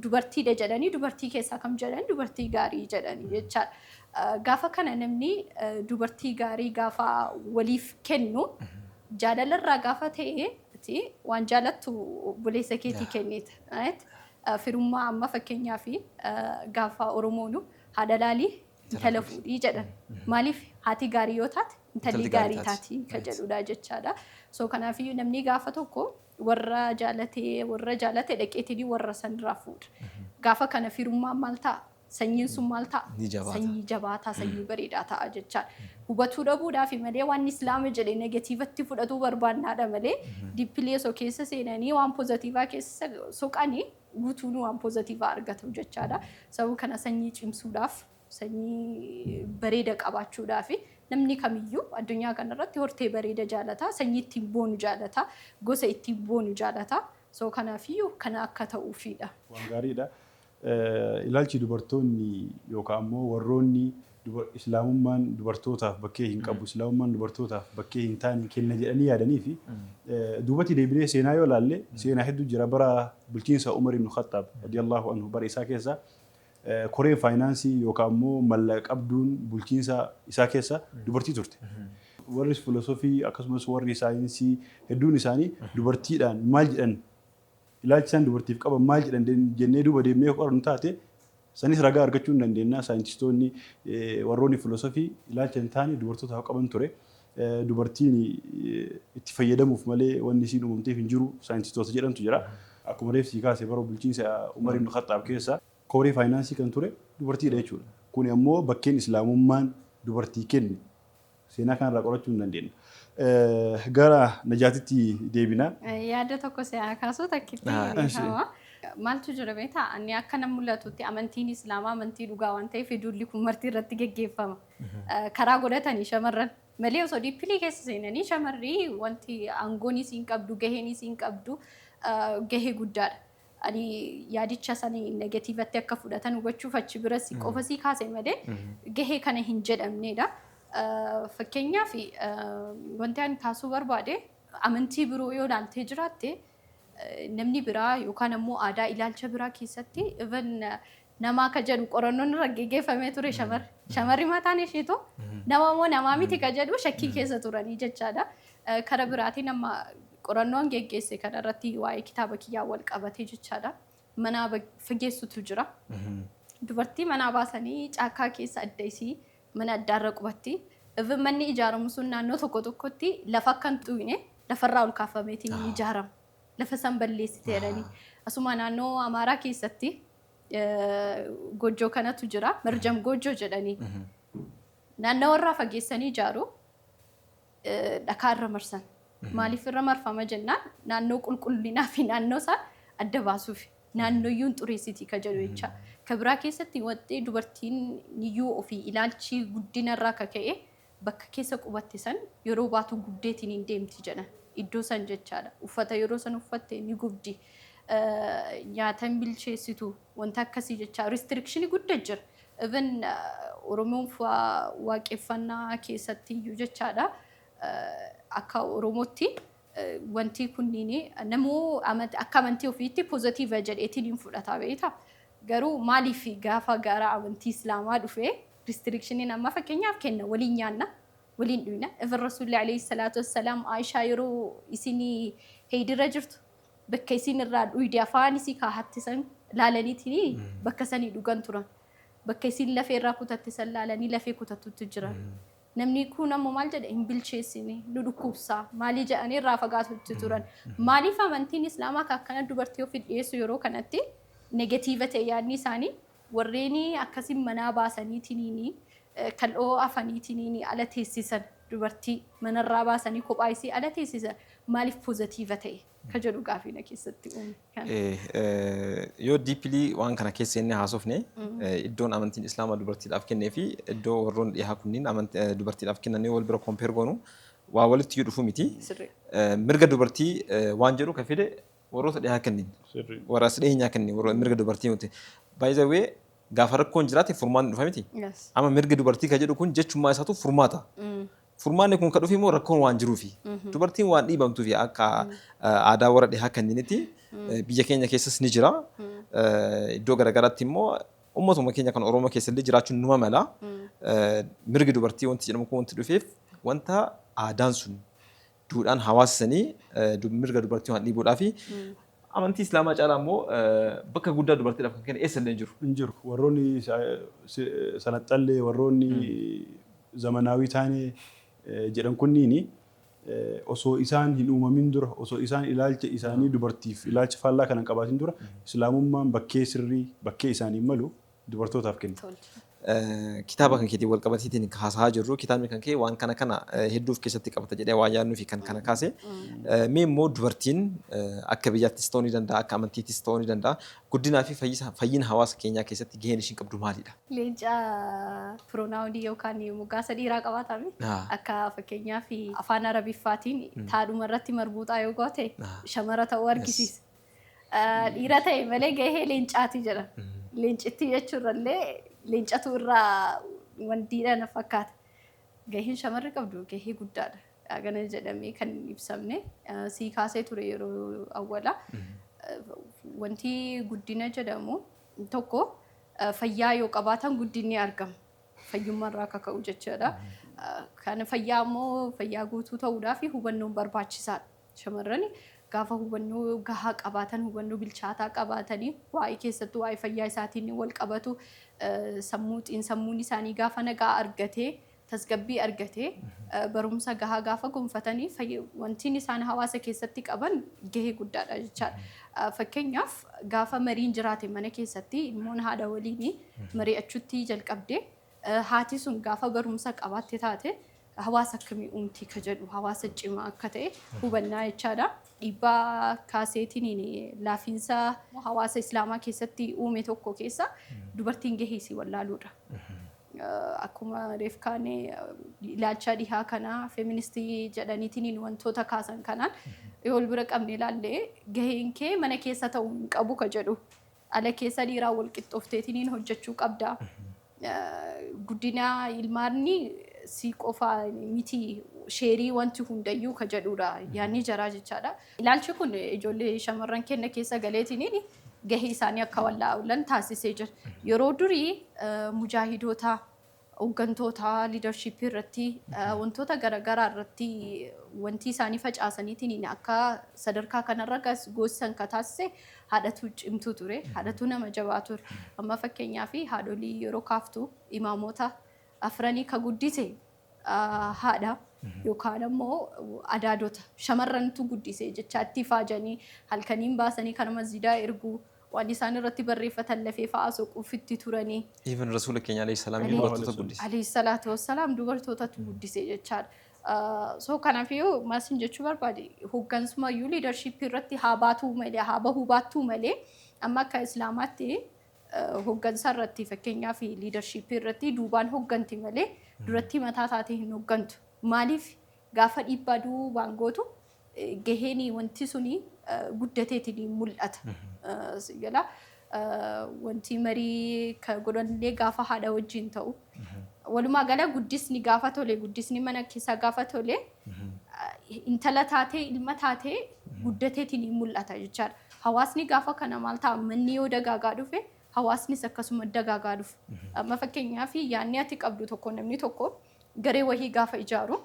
dubartiidha jedhanii dubartii keessaa kam jedhan dubartii gaarii jedhani jecha. Gaafa kana namni dubartii gaarii gaafa waliif kennu jaalalarraa gaafa ta'e ati waan jaalattu obboleessa keetii kennita. Firummaa amma fakkeenyaaf gaafa Oromoonu Haadha laalii intala fuudhii jedhan. Maaliif haati gaarii yoo taate intalli gaarii taati kan jedhudha jechaadha. So kanaafiyyuu namni gaafa tokko warra jaalatee warra jaalate dhaqeetii warra sanirraa fuudha. Gaafa kana firummaan maal ta'a? Sanyiin sun maal ta'a? Ni jabaata. Sanyii jabaataa, sanyii bareedaa ta'a jechaadha. Hubatuu dhabuudhaafi malee waan islaama jedhe negatiivatti fudhatuu barbaannaadha malee dippilii osoo keessa seenanii waan pozatiivaa keessa soqanii guutuun waan pozatiivaa argatu jechaadha. Sababa kana sanyii cimsuudhaaf, sanyii bareeda qabaachuudhaaf namni kamiyyuu addunyaa kanarratti hortee bareeda jaalata, sanyii ittiin boonu jaalata, gosa ittiin boonu jaalata. So kanaafiyyuu kana akka ta'uufiidha. Waan gaariidha. Ilaalchi dubartoonni yookaan ammoo warroonni Islaamummaan dubartootaaf bakkee hin qabu, Islaamummaan dubartootaaf bakkee hin taane kenna jedhanii yaadanii fi duubatti deebinee seenaa yoo ilaalle seenaa hedduu jira. Bara bulchiinsa Umar ibn Khaxxaab radiyallahu anhu bara isaa keessa koreen faayinaansii yookaan immoo mallaqa qabduun bulchiinsa isaa keessa dubartii turte. Warri filosofii akkasumas warri saayinsii hedduun isaanii dubartiidhaan maal jedhan Ilaalchi isaan dubartiif qaban maal jedhan jennee duuba deemnee yoo qorannu taate sanis ragaa argachuu hin dandeenya. Saayintistoonni warroonni filosofii ilaalcha hin taane dubartootaaf qaban ture. Dubartiin itti fayyadamuuf malee wanni isiin uumamteef hin jiru saayintistoota jedhantu jira. Akkuma reef sii kaase bara bulchiinsa Umar ibn Khaxxaab keessa koree faayinaansii kan ture dubartiidha jechuudha. Kuni ammoo bakkeen Islaamummaan dubartii kenne Seenaa kanarraa qorachuu hin dandeenna. Gara Najaatitti deebina. Yaada tokko si haa kaasuu takkitti Ah, eshi. dhiifama. Maaltu jira beektaa? Ani akka nan mul'atutti amantiin Islaamaa amantii dhugaa waan ta'eef duulli kun marti irratti geggeeffama. Eh, Karaa godhatanii shamarran malee osoo diippilii keessa seenanii shamarri wanti aangoon isiin qabdu gaheen isiin qabdu eh, gahee guddaadha. ani yaadicha sani negatiivatti akka fudhatan hubachuuf achi bira si qofa si kaase malee gahee kana hin jedhamneedha. Fakkeenyaaf wanti ani taasisuu barbaade amantii biroo yoo ilaaltee jiraatte namni biraa yookaan ammoo aadaa ilaalcha biraa keessatti even namaa ka jedhu qorannoon irra geggeeffamee ture shamarri. Shamarri mataan isheetu nama moo namaa miti ka jedhu shakkii keessa turanii jechaadha. Kara biraatiin amma qorannoo an geggeesse kana irratti waa'ee kitaaba kiyyaa wal qabatee jechaadha. Manaa ba- fageessutu jira. Dubartii manaa baasanii caakkaa keessa adda isii mana addaarra qubatti. Even manni ijaaramu sun naannoo tokko tokkotti lafa akka hin xuqne lafarraa ol kaafameetiin hin ijaaramu. Lafa san balleessite jedhanii. Asuma naannoo Amaaraa keessatti eh, goojjoo kanatu jira. Marjam goojjoo jedhanii. Naannawarraa fageessanii ijaaru. dhakaa irra marsan. Maaliif irra marfama jennaan naannoo qulqullinaa fi naannoo isaa adda baasuuf naannoyyuu hin xureessiti ka jedhu jecha. Ka biraa keessatti waxxee dubartiin niyyuu ofii ilaalchi guddina irraa ka ka'e bakka keessa qubatte san yeroo baatu gubdeetiin hin deemti jedhan. Iddoo san jechaadha. Uffata yeroo san uffatte ni gubdi. Nyaata hin bilcheessitu. Wanta akkasii jechaa restriction gudda jira. Even Oromoon fa'aa waaqeffannaa keessatti iyyuu jechaadha akka Oromootti wantii kunniin namuu akka amantii ofiitti positive jedheetiin hin fudhata beekta. Garuu maaliif gaafa gara amantii Islaamaa dhufee restrictioniin amma fakkeenyaaf kenna waliin nyaanna waliin dhuyna even Rasuulli alayhi salaatu wassalaam Aishaa yeroo isin heeydirra jirtu bakka isiin irraa dhuyde afaan isii kaahatte san laalaniitini bakka sanii dhugan turan. Bakka isiin lafee irraa kutatte san laalanii lafee kutattutti jiran. Namni kun ammoo maal jedhe hin bilcheessine nu dhukkubsaa maalii jedhanii irraa fagaatutti turan. Maaliif amantiin islaamaa ka akkana dubartii ofi dhiyeessu yeroo kanatti negatiiva ta'e yaadni isaanii Worreeni akkasi manaa baasaniitiniini kal'oo afaniitiniini ala teessisan, dubartii manarraa baasanii kophaa isii ala teessisan maaliif pozatiiva ta'e ka jedhu gaafii na keessatti uume. Kana. Ee, yoo deeply waan kana keessa seennee haasofne, iddoon amantiin Islaamaa dubartiidhaaf kennee fi iddoo warroonni dhihaa kunniin amant, dubartiidhaaf kennan yoo wal bira compare goonu waa walitti iyyuu dhufu miti. Sirrii. Ee, mirga dubartii ee, waan jedhu ka fide Warroota dhihaa kennin. Sirrii. Warra as dhiyeenyaa kennin. Warra mirga dubartii miti. By the way, gaafa rakkoon jiraate furmaanni dhufa miti. Yes. Amma mirga dubartii kan jedhu kun jechummaa isaatu furmaata. Furmaanni kun kan dhufe immoo rakkoon waan jiruufi. Dubartiin waan dhiibamtuufi akka eh, aadaa warra dhihaa kenninitti eh, biyya keenya keessas ni jira. Eh, Iddoo garaagaraatti immoo uummatuma keenya kan Oromoo keessa illee jiraachuun numa mala. Eh, Mirgi dubartii wanti jedhamu kun wanti dhufeef wanta aadaan sun duudhaan hawaasa sanii mirga dubartii waan dhiibuudhaa fi amantii islaamaa caalaa immoo bakka guddaa dubartiidhaaf kan kenne eessallee hin jiru. hin jiru. Warroonni salaxxallee, warroonni zamanaawii taane jedhan kunniini osoo isaan hin uumamin dura, osoo isaan ilaalcha isaanii dubartiif ilaalcha faallaa kana hin qabaatin dura islaamummaan bakkee sirrii, bakkee isaaniif malu dubartootaaf kenni. Kitaaba kan keetiin walqabatiitiin haasahaa jirru kitaabni kan kee waan kana kana hedduu of keessatti qabata jedhee waan yaadnuu fi kan kana kaase. Mee immoo dubartiin akka biyyaattis ta'uu ni danda'a akka amantiittis ta'uu ni danda'a guddinaa fi fayyina hawaasa keenyaa keessatti gaheen ishiin qabdu maalidha? Leenca piroonaawunii yookaan moggaasa dhiiraa qabaatame akka fakkeenyaaf afaan arabiffaatiin taadhuma irratti marbuuxaa yoo goote shamara ta'uu argisiisa. Dhiira ta'e malee gahee leencaati jedha. Leencittii jechuurrallee leencatu irraa wandiidha na fakkaata. Gaheen shamarri qabdu gahee guddaadha. Hagana jedhamee kan hin ibsamne eh, sii kaasee ture yeroo awwala. Eh, Wanti guddina jedhamu tokko eh, fayyaa yoo qabaatan guddinni argama. Fayyummaa irraa akka ka'u jechuudha. Eh, Kan fayyaa immoo fayyaa guutuu ta'uudhaaf hubannoon barbaachisaadha. Shamarrani gaafa hubannoo gahaa qabaatan, hubannoo bilchaataa qabaatanii waa'ee keessattuu waa'ee fayyaa isaatiin wal qabatu sammuu xiinsammuun isaanii gaafa nagaa argatee tasgabbii argatee barumsa gahaa gaafa gonfatanii fayya- wantiin isaan hawaasa keessatti qaban gahee guddaadha jechaadha. Eh, Fakkeenyaaf gaafa mariin jiraate mana keessatti ilmoon haadha waliin mari'achuutti jalqabdee Haati sun gaafa barumsa qabaatte taate hawaasa akkamii uumti ka jedhu hawaasa cimaa akka ta'e hubannaa jechaadha. Dhiibbaa kaaseetiin laafiinsa hawaasa Islaamaa keessatti uume tokko keessa dubartiin gahee isii wallaaluudha. Akkuma reef kaane ilaalchaa dhihaa kanaa feministii jedhaniitiin wantoota kaasan kanaan yoo wal bira qabne ilaalle gaheen kee mana keessa ta'uu hin qabu ka jedhu Dhala keessa dhiiraa wal qixxoofteetiniin hojjechuu qabda. Guddina ilmaanni si qofa miti sheerii wanti hundayyuu ka jedhuudha yaanni jaraa jechaadha. Ilaalchi kun ijoollee shamarran kenna keessa galeetiniin gahee isaanii akka wallaalan taasisee jira. Yeroo durii mujaahidootaa. Hoggantootaa, leadership, irratti wantoota garagaraa irratti wantii isaanii facaasaniitiin akka sadarkaa kanarra goossan ka taasise haadhatuu cimtuu ture. Haadhatuu nama jabaa ture. Amma fakkeenyaaf haadholii yeroo kaaftu imaamoota afranii ka guddise haadha yookaan ammoo adaadota shamarrantu guddise jechaa itti faajanii halkaniin baasanii kana masjidaa erguu Waan isaan irratti barreeffatan lafee fa'aa soquuf itti turani. Even Rasuula keenya Aleyhi Salaam iyyuu Aleyhi. dubartoota guddise. Aleyhi salaatu wassalaam dubartootatu guddise jechaadha. Ah, So kanafiyyuu maalsin jechuu barbaade hoggansumayyuu leadership irratti haa baatuu malee haa bahuu baattuu malee amma akka Islaamaatti ah, hoggansa irratti fakkeenyaaf leadership irratti duubaan hogganti malee duratti mataa taatee hin hoggantu. Maaliif gaafa dhiibbaa duubaan gootu gaheen wanti suni guddateetiin mul'ata. Siyyala wanti marii ka godhanillee gaafa haadha wajjin ta'u. Walumaa gala guddisni gaafa tole guddisni mana keessaa gaafa tole intala taatee ilma taatee guddateetiin mul'ata jechaadha. Hawaasni gaafa kana maal ta'a manni yoo dagaagaa dhufe hawaasnis akkasuma dagaagaa dhufu. Amma fakkeenyaaf yaadni ati qabdu tokko namni tokko garee wahii gaafa ijaaru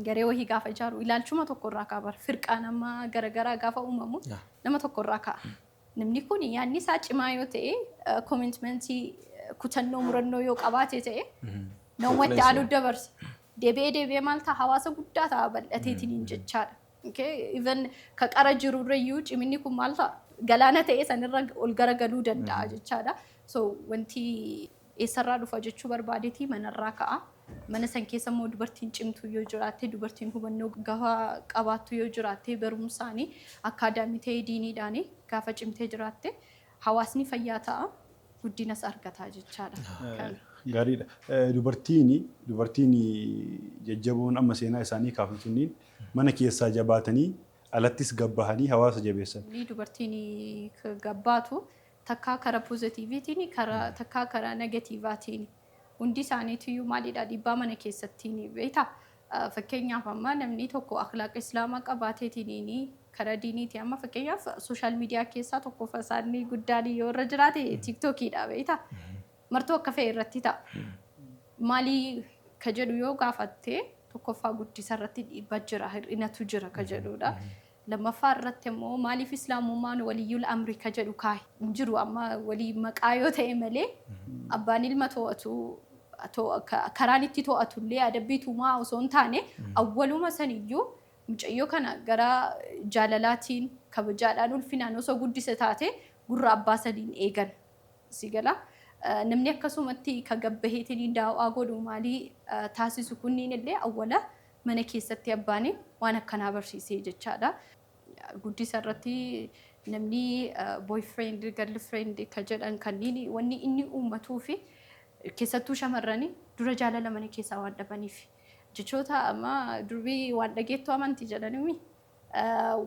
Garee wahii gaafa ijaaru ilaalchuma tokko irraa ka'a bara. Firqaan amma garagaraa gaafa uumamu Yeah. nama tokko irraa ka'a. Namni kun yaadni isaa cimaa yoo ta'e, koomentimentii, kutannoo, murannoo yoo qabaate ta'e, nama itti aanuu dabarsa. Deebi'ee deebi'ee maal ta'a hawaasa guddaa ta'a bal'ateetiin hin jechaadha. Okay? Even ka qara jiru irra iyyuu ciminni kun maal ta'a galaana ta'e sanirra ol garagaluu danda'a jechaadha. So wanti Eessarraa dhufa jechuu barbaadetii manarraa ka'a. Mana san keessa immoo dubartiin cimtuun yoo jiraatte, dubartiin hubannoo gahaa qabaattu yoo jiraatte, barumsaani, akkaadaamii ta'ee diiniidhaani gaafa cimtee jiraatte hawaasni fayyaa ta'a, guddinas argata jechaadha. Kana. Gaariidha. Dubartiin dubartiin jajjaboon amma seenaa isaanii kaafnu tunniin mana keessaa jabaatanii alattis gabbahanii hawaasa jabeessan. Ni dubartiin gabbaatu takkaa kara pozatiiviitiini kara takkaa kara negatiivaatiini hundi isaaniitiyyuu maalidha dhiibbaa mana keessattiini beektaa fakkeenyaaf amma namnii tokko akhlaaqa islaamaa qabaateetiiniini kara diiniiti amma fakkeenyaaf sooshaal miidiyaa keessaa tokkofa isaanii guddaani yoo irra jiraate tiiktookiidha beektaa martuu akka fe'e irratti ta'a maalii ka jedhu yoo gaafatte tokkoffaa guddisa irratti dhiibba jira hir'inatu jira ka jedhuudha Lammaffaa irratti immoo maaliif islaamummaan waliyyul amri ka jedhu kaahe hin jiru amma walii maqaa yoo ta'e malee abbaan ilma to'atu to- ka- karaan itti to'atu illee adabbii tumaa osoo hin taane awwaluma saniyyuu mucayyoo kana gara jaalalaatiin kabajaadhaan ulfinaan osoo guddise taate gurra abbaa saniin eegan si gala Eh, namni akkasumatti ka gabbaheetiin daawaa godhu maalii eh, taasisu kunniin illee awwala Mana keessatti abbaan waan akkanaa barsiisee jechaadha. Guddisa irratti namni boyfriend, girlfriend ka jedhan kanniin wanni inni uummatuu fi keessattuu shamarrani dura jaalala mana keessaa waan dhabaniif. Jechoota amma durbi waan dhageettu amanti jedhanimi.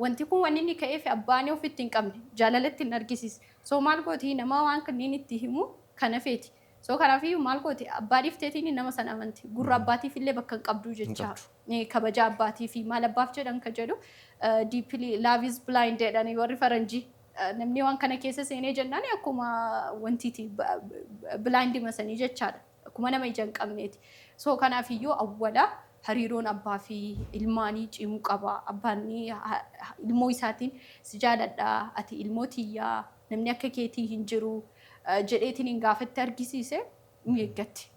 Wanti kun wanni inni ka'eef abbaan ofitti hin qabne, jaalala itti hin argisiisne. So maal gooti nama waan kanniin itti himu kana feeti. So kanaafiyyuu maal gooti? Abbaa dhiifteetiini nama san amanti. Gurra abbaatiifillee bakka hin qabdu Hin jecha. qabdu. Ee, Kabaja abbaatiifi maal abbaaf jedhan ka jedhu eh, deeply love is blind jedhani warri faranjii. Eh, Namni waan kana keessa seenee jennaan akkuma wantiiti ba- ba- blind masanii jechaadha. Akkuma nama ija hin qabneeti. So kanaafiyyuu awwala hariiroon abbaa fi ilmaanii cimuu qaba. Abbaan ni ha- ha- ilmoo isaatiin si jaaladha, ati ilmoo tiyyaa, Namni akka keetii hin jiru jedheetiniin gaafa itti argisiise ni eeggatti.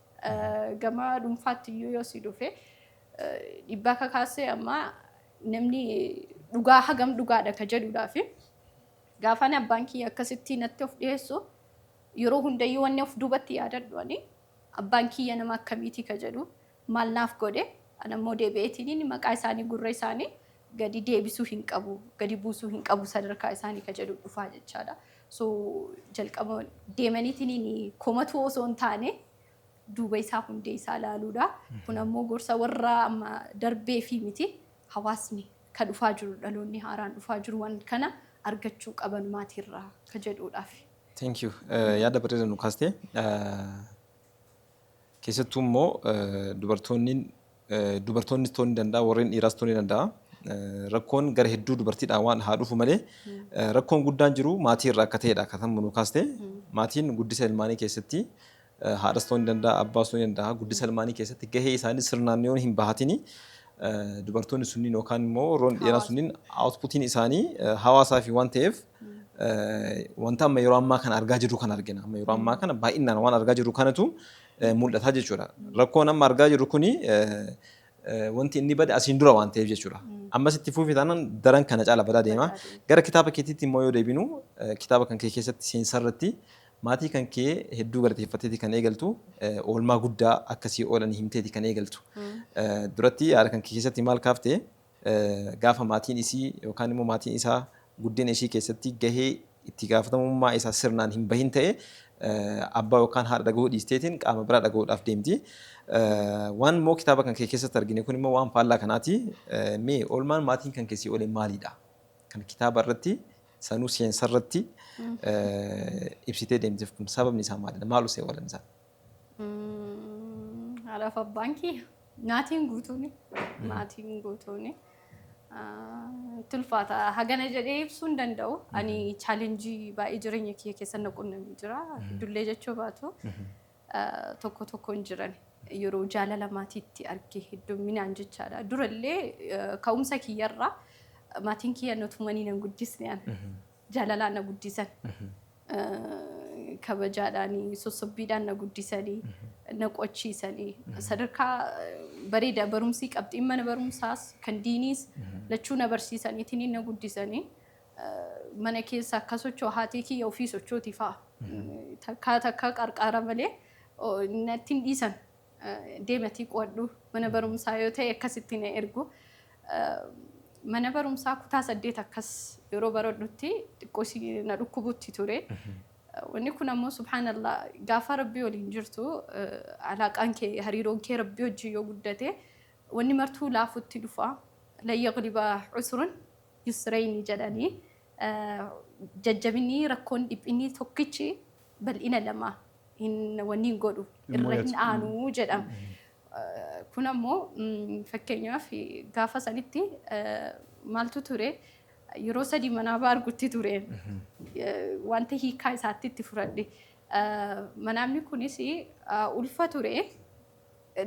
Gama dhuunfaatti iyyuu yoo si dhufe dhibbaa kakaasee amma namni dhugaa hagam dhugaadha ka jedhudhaa fi gaafaan abbaan kiyya akkasitti natti of dhiyeessu yeroo hundayyuu wanni of duubatti yaadadhu ani abbaan kiyya nama akkamiitii ka jedhu maal naaf godhe? Ana immoo deebi'eetiinini maqaa isaanii gurra isaanii gadi deebisuu hin qabu, gadi buusuu hin qabu sadarkaa isaanii ka jedhu dhufaa jechaadha. So jalqaba deemaniitiinini komatuu osoo hin taane duuba isaa hundee isaa ilaaluudha. Kun ammoo gorsa warra amma darbee fi miti hawaasni ka dhufaa jiru dhaloonni haaraan dhufaa jiru waan kana argachuu qaban maatiirraa ka jedhuudhaafi. Thank you. Eh, yaada bareeda nu kaastee. Eh, Keessattuu immoo dubartoonni dubartoonnis ta'uu ni danda'a warreen dhiiraas ta'uu ni danda'a. Rakkoon gara hedduu dubartiidhaan waan haa dhufu malee rakkoon guddaan jiru maatii irraa akka ta'edha akka tammu nu kaaste. Maatiin guddisa ilmaanii keessatti haadhas ta'uu ni danda'a abbaas ta'uu ni danda'a guddisa ilmaanii keessatti gahee isaanii sirnaan yoo hin bahatini dubartoonni sunniin yookaan immoo warroonni dhiiraa Hawaasa. sunniin outputiin isaanii hawaasaa fi waan ta'eef wanta amma yeroo ammaa kana argaa jirru kan argina. Amma yeroo ammaa kana baay'inaan waan argaa jirru kanatu mul'ata jechuudha. Rakkoon amma argaa jirru kuni wanti inni bade asiin dura waan ta'eef jechuudha. Ammas itti fufi taanaan daran kana caala badaa deema. Gara kitaaba keetiitti immoo yoo deebinu kitaaba kan kee keessatti seensa irratti maatii kan kee hedduu galateeffatteeti kan eegaltu oolmaa guddaa akkasii oolanii himteeti kan eegaltu. Duratti yaada kan kee keessatti maal kaaftee? Gaafa maatiin isii yookaan immoo maatiin isaa guddina ishii keessatti gahee itti gaafatamummaa isaa sirnaan hin bahin ta'e abbaa yookaan haadha dhagahuu dhiisteetiin qaama biraa dhagahuudhaaf deemti. Waan immoo kitaaba kan kee keessatti argine kun immoo waan faallaa kanaati. Mee oolmaan maatiin kan kee sii oole maalidha? Kan kitaaba irratti sanuu seensa irratti ibsitee deemteef kun sababni isaa maalidha? Maal usee oolan isaan? Haadhaaf abbaan kiyya maatiin guutuun maatiin guutuun tulfaata hagana jedhee ibsuu hin danda'u. Ani chaalenjii baay'ee jireenya kiyya keessa na qunnamee jira. Dullee jechuu baatu tokko tokkoon jiran yeroo jaalala maatiitti arge hedduminaan jechaadha. Durallee ka'umsa kiyyarraa maatiin kiyya na tumanii nan guddisne ana. jaalalaan na guddisan. Kabajaadhaani, sossobbiidhaan na guddisanii, na qochiisanii. Sadarkaa bareeda barumsii qabxiin mana barumsaas kan diiniis lachuu na barsiisaniitiin na guddisanii. Mana keessa akka socho'u haatee kiyya ofii sochooti fa'a. Takkaa takkaa qarqaara malee natti hin dhiisan. Deematii qo'adhu. Mana barumsaa yoo ta'e akkasitti na ergu. Mana barumsaa kutaa saddeet akkas yeroo baradhutti xiqqoo si na dhukkubutti ture. Wanni kun ammoo subhaanallah gaafa rabbii waliin jirtu alaaqaan kee hariiroon kee rabbii wajjin yoo guddate wanni martuu laafutti dhufa. Lan yagliba usrun yusrayni jedhanii jajjabinni rakkoon dhiphinni tokkichi bal'ina lama hin wanni hin godhu Hin irra hin mo'atu. aanu jedhama. Eh, Kun ammoo mm, fakkeenyaaf gaafa sanitti eh, maaltu ture yeroo sadii manaa baargutti ture Eh, wanta hiikaa isaatti itti fudhadhe. Eh, Manaamni kunis eh, ulfa ture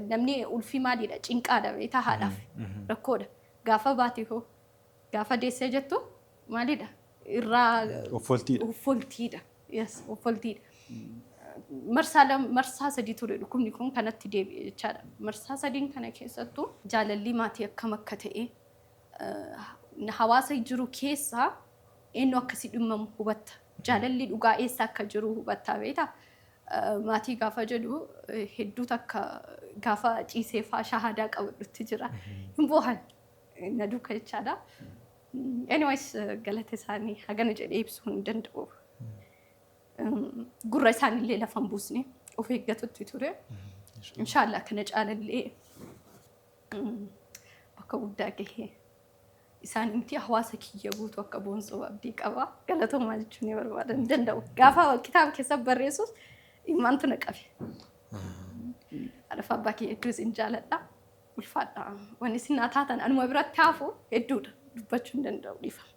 namni ulfi maaliidha cinqaadha beektaa haadhaaf rakkoodha gaafa baate hoo Gaafa deessee jettu maalidha? Irraa Offoltiidha. offoltiidha. Yes, offoltiidha. Marsaa lam- marsaa sadii ture dhukkubni kun kanatti deebi'e jechaadha. Marsaa sadiin kana keessattuu jaalalli maatii akkam akka ta'e eh, hawaasa jiru keessaa eenyu akkasii dhimmamu hubatta. Jaalalli dhugaa eessa akka jiru hubatta beekta. Eh, Maatii gaafa jedhu eh, hedduu takka gaafa ciisee faa shahaadaa qabadhutti jira. Hin boohan. na duuka jechaadha. Anyways galata isaanii hagana jedhee ibsuu hin danda'u. Gurra isaanillee lafa hin buusne of eeggatutti ture. Inshaallah kana caalallee bakka guddaa gahee isaan miti hawaasa kiyya guutuu akka boonsoo abdii qaba. Galatoomaa jechuun ni barbaada hin danda'u. Gaafa kitaaba keessa barreessus dhimmaantu na qabe. Haadhaaf abbaa kiyya hedduus hin jaaladha. Ulfaadha. Wanni isin naa taatan anuma biratti hafu hedduudha. Dubbachuu hin danda'u dhiifama.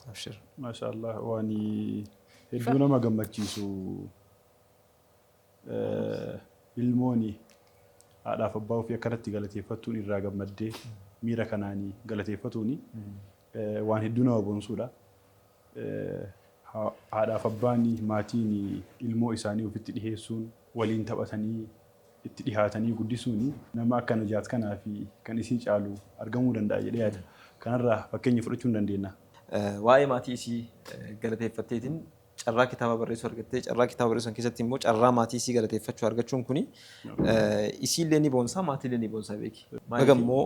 Abshir. Maashaa Allah waan hedduu nama gammachiisu ilmooni haadhaaf abbaa ofii akkanatti galateeffattuun irraa gammaddee miira kanaanii galateeffatuuni waan hedduu nama boonsuudha. Haadhaaf abbaan, maatiin ilmoo isaanii ofitti dhiheessuun waliin taphatanii itti dhihaatanii guddisuun nama akka Najaat kanaa fi kan isii caalu argamuu danda'a jedhee yaada. Kanarraa fakkeenya fudhachuu ni dandeenya. Waa'ee maatii isii galateeffatteetiin carraa kitaaba barreessuu argatte. Carraa kitaaba barreessuu san keessatti immoo carraa maatii isii galateeffachuu argachuun kuni isiillee ni boonsa, maatiillee ni boonsa beeki. Baga immoo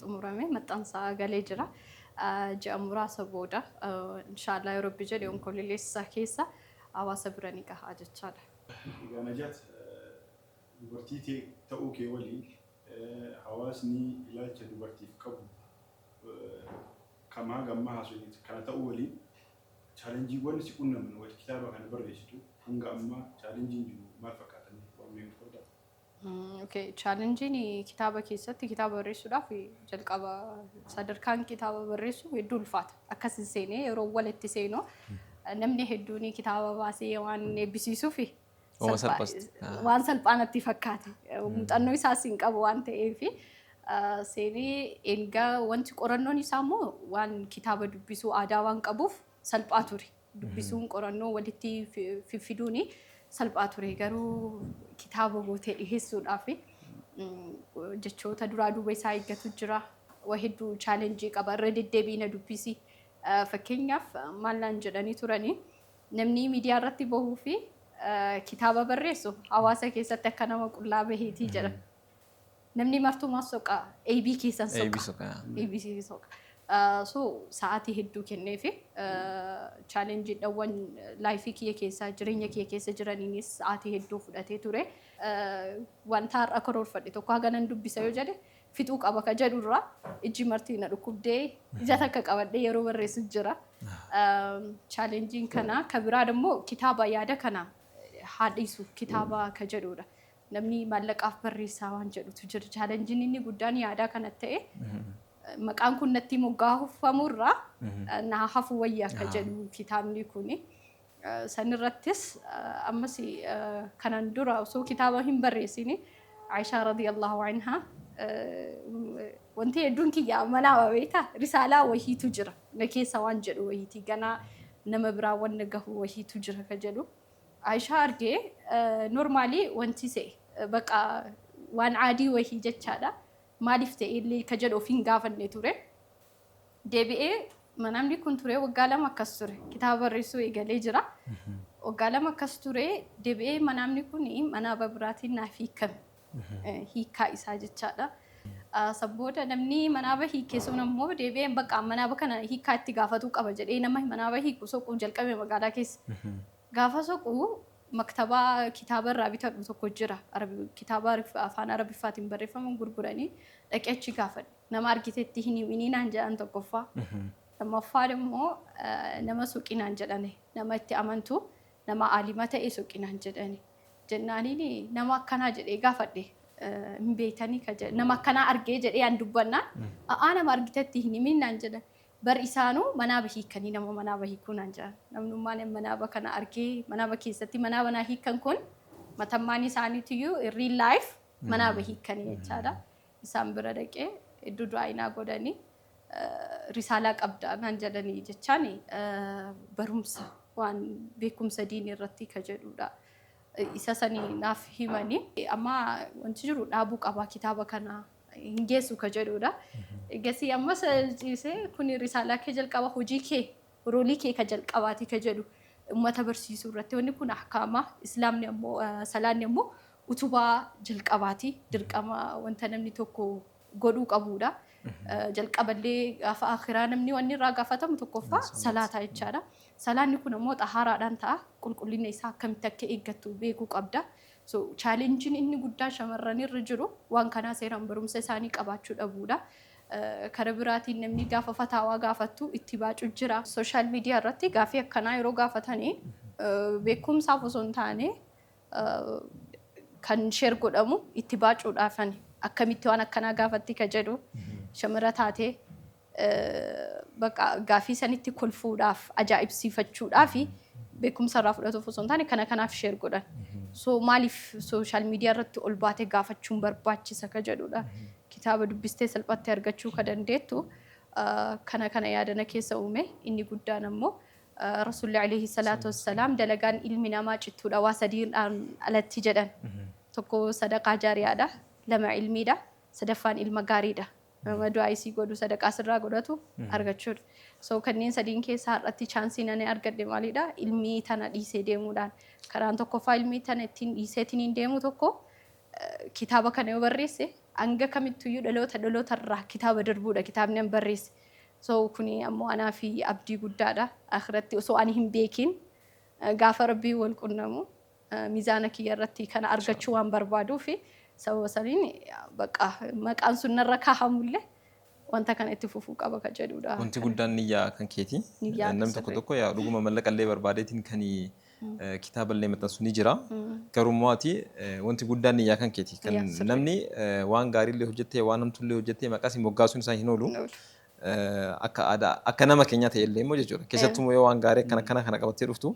xumuramee maxxansaa galee jira. Ji'a muraasa booda inshaallah yoo rabbi jedhe onkololeessa keessa hawaasa bira ni gaha jechaadha. Egaa Najat dubartii tee ta'uu kee waliin hawaasni ilaalcha dubartiif qabu kamaa gamma haasofne kana ta'uu waliin chaalenjiiwwan si qunnaman wayita kitaaba kana barreessitu hanga ammaa chaalenjiin jiru maal fakkaata mee waan mee nuuf qoddaa? Okay, chaalenjiin kitaaba keessatti kitaaba barreessuudhaaf jalqaba sadarkaan kitaaba barreessuu hedduu ulfaata. Akkas hin seenee yeroo walitti seenu namni hedduun kitaaba baasee waan eebbisiisuuf Oma salphaa- salphas- waan salphaa natti fakkaate. Muuxannoo isaas hin qabu waan ta'eef seenee erga wanti qorannoon isaa immoo waan kitaaba dubbisuu aadaa waan qabuuf salphaa ture. dubbisuun qorannoo walitti fiffiduun salphaa ture garuu kitaaba gootee dhiheessuudhaaf jechoota duraa duuba isaa eeggatu jira. Waa hedduu chaalenjii qaba irra deddeebi'i na dubbisi. Fakkeenyaaf maal naan jedhanii turanii namni miidiyaa irratti bahuu fi kitaaba barreessu hawaasa keessatti akka nama qullaa baheetii jedhan. Namni martuu maaf soqa? AB keessan soqa. AB soqa. AB soqa. So sa'aatii hedduu kenneefi chaalenjiidhawwan laayifii kiyya keessaa jireenya kiyya keessa jiraniinis sa'aatii hedduu fudhatee ture. Wanta har'a karoorfadhe tokko haga nan dubbisa yoo jedhe fixuu qaba ka jedhu irraa ijji marti na dhukkubdee ija takka qabadhee yeroo barreessu jira. Chaalenjiin kana ka biraa immoo kitaaba yaada kana haa dhiisu kitaaba ka jedhudha. Namni maallaqaaf barreessaa waan jedhutu jira. Chaalenjiin inni guddaan yaadaa kanatti ta'e maqaan kun natti moggaafamu irraa naa hafu wayya akka jedhu kitaabni kuni. Sanirrattis ammas kanan dura osoo kitaaba hin barreessini Aishaa radiyallahu anhaa wanti hedduun kiyya amanaama beektaa risaalaa wahiitu jira na keessa waan jedhu wahiiti ganaa nama biraa wanna gahu wahiitu jira ka jedhu Aishaa arge normally wanti se baqa waan aadii wahii jechaadha maaliif ta'e illee ka jedhu of hin gaafanne ture deebi'ee manaamni kun ture waggaa lama akkas ture kitaaba barreessuu eegalee jira waggaa lama akkas ture deebi'ee manaamni kun manaa babiraatiin naaf hiikame hiikkaa isaa jechaadha. Ah, San booda namni manaaba hiike sun ammoo deebi'ee bakka manaaba kana hiikkaa itti gaafatuu qaba jedhee nama manaaba hiiku soquu jalqabe magaalaa keessa. Gaafa soqu maktabaa kitaaba irraa bitadhu tokko jira. Arabi- Kitaaba Arif- afaan arabiffaatiin barreeffaman gurguranii dhaqee achi gaafadhe. Nama argitetti hin himinii naan jedhan tokkoffaa. Lammaffaa immoo nama suuqii naan jedhane nama itti amantu Nama aalima ta'e soqi naan jedhani. Jennaaniini nama akkanaa jedhee gaafadhe. Hin beeytanii ka jedhe. Nama akkanaa argee jedhee an dubbannaan a'aa nama argite itti hin himiin naan jedhan. Bar isaanuu manaaba hiikkanii nama manaaba hiikuu naan jedhan. Namnummaan an manaaba kana argee manaaba keessatti manaaba naa hiikkan kun matammaan isaaniitiyyuu in real life manaaba hiikkanii jechaadha. isaan bira dhaqee iddoo du'aayinaa godhanii risaalaa qabdaa naan jedhanii jechaan barumsa waan beekumsa diinii irratti ka jedhuudha. Isa sanii naaf himanii amma wanti jiru dhaabuu qabaa kitaaba kana hin geessu ka jedhuudha. Egasii ammas ciisee kun risaalaa kee jalqaba hojii kee Roolii kee ka jalqabaati ka jedhu ummata barsiisuu irratti. Wanni kun ahkaama, Islaamni ammoo, salaanni ammoo utubaa jalqabaati. Dirqama wanta namni tokko godhuu qabuudha. Jalqaba illee gaafa aakhiraa namni wanni irraa gaafatamu tokkoffaa salaata jechaadha. Salaanni kun ammoo xahaaraadhaan ta'a. Qulqullina isaa akkamitti akka eeggattu beekuu qabda. So challenge inni guddaan shamarran irra jiru waan kanaa seeraan barumsa isaanii qabaachuu dhabuudha. Kara biraatiin namni gaafa fataawaa gaafattu itti baacu jira. Sooshaal miidiyaa irratti gaaffii akkanaa yeroo gaafatani beekumsaaf osoo hin taane kan sheer godhamu itti baacuudhaafani. Akkamitti waan akkanaa gaafatti ka jedhu shamara taatee baqa gaaffii sanitti kolfuudhaaf ajaa'ibsiifachuudhaaf beekumsa irraa fudhatuuf osoo hin taane kana kanaaf sheer godhan. So maaliif sooshaal miidiyaa irratti ol baate gaafachuun barbaachisa ka jedhudha. Kitaaba dubbistee salphatti argachuu ka dandeettu kana kana yaada na keessa uume. Inni guddaan ammoo Rasuulli Aleeyhi Salaatu Wassalaam dalagaan ilmi namaa cittuudha waa sadiidhaan alatti jedhan. Tokko sadaqaa jaariyaadha, lama ilmiidha, sadaffaan ilma gaariidha. Nama du'aa'ii sii godhu, sadaqaa sirraa godhatu argachuudha. So kanneen sadiin keessa har'atti chaansiin ani argadhe maalidha? Ilmii tana dhiisee deemuudhaan. Karaan tokkoffaa ilmii tana ittiin dhiiseetiniin deemu tokko Kitaaba kana yoo barreesse hanga kamittuyyuu dhaloota dhaloota irraa kitaaba darbuudha kitaabni an barreesse. So kuni ammoo anaa fi abdii guddaadha. Akhiratti osoo ani hin beekiin gaafa Rabbiin wal qunnamu mizaana kiyya irratti kana argachuu waan barbaaduufi sababa saniin bakka maqaan sun narra kaahamullee wanta kana itti fufuu qaba ka jedhuudha. Wanti guddaan niyyaa kan keeti. Niyyaa Namni tokko sirrii. tokko yaa dhuguma mallaqa illee barbaadeetiin kan kitaaba illee maxxansu ni jira. Garuu immoo ati eh, wanti guddaan niyyaa kan keeti. Kan Niyyaa sirrii. namni eh, waan gaarii illee hojjettee waan hamtuu illee hojjettee maqaa si moggaasuun isaa hin oolu. Hin oolu. Eh, Akka aadaa akka nama keenyaa ta'e illee immoo jechuudha. Keessattuu immoo yoo waan gaarii akkana akkana kana qabattee dhuftu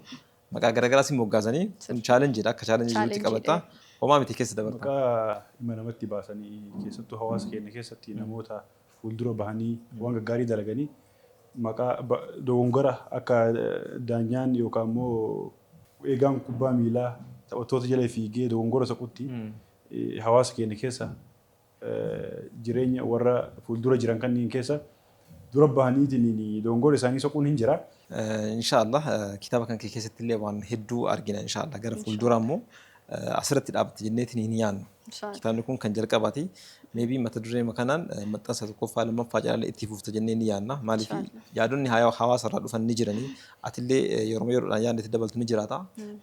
Maqaa garagaraa si moggaasanii kun challenge dha akka challenge jirutti qabatta. Homaa miti keessa dabarta. Maqaa dhimma namatti baasanii keessattuu hawaasa keenya keessatti namoota fuuldura bahanii waan gaggaarii dalaganii maqaa dogongora akka daanyaan yookaan immoo eegaan kubbaa miilaa taphattoota jala fiigee dogongora saqutti hawaasa keenya keessa jireenya warra fuuldura jiran kanniin keessa dura bahaniitiin doongoora isaanii soquun hin jira. Inshaa Allah kitaaba kan kee keessatti illee waan hedduu argina inshaa Allah gara fuuldura immoo asirratti dhaabatte jenneetiin hin yaannu. Kitaabni kun kan jalqabaati. Meebii mata duree kanaan maxxansa tokkoffaa lammaffaa jalalee itti fufta jennee ni yaanna. Maaliif yaadonni hawaasa irraa dhufan ni jiranii. Atillee yeroo yeroodhaan yaadni itti dabaltu ni jiraata.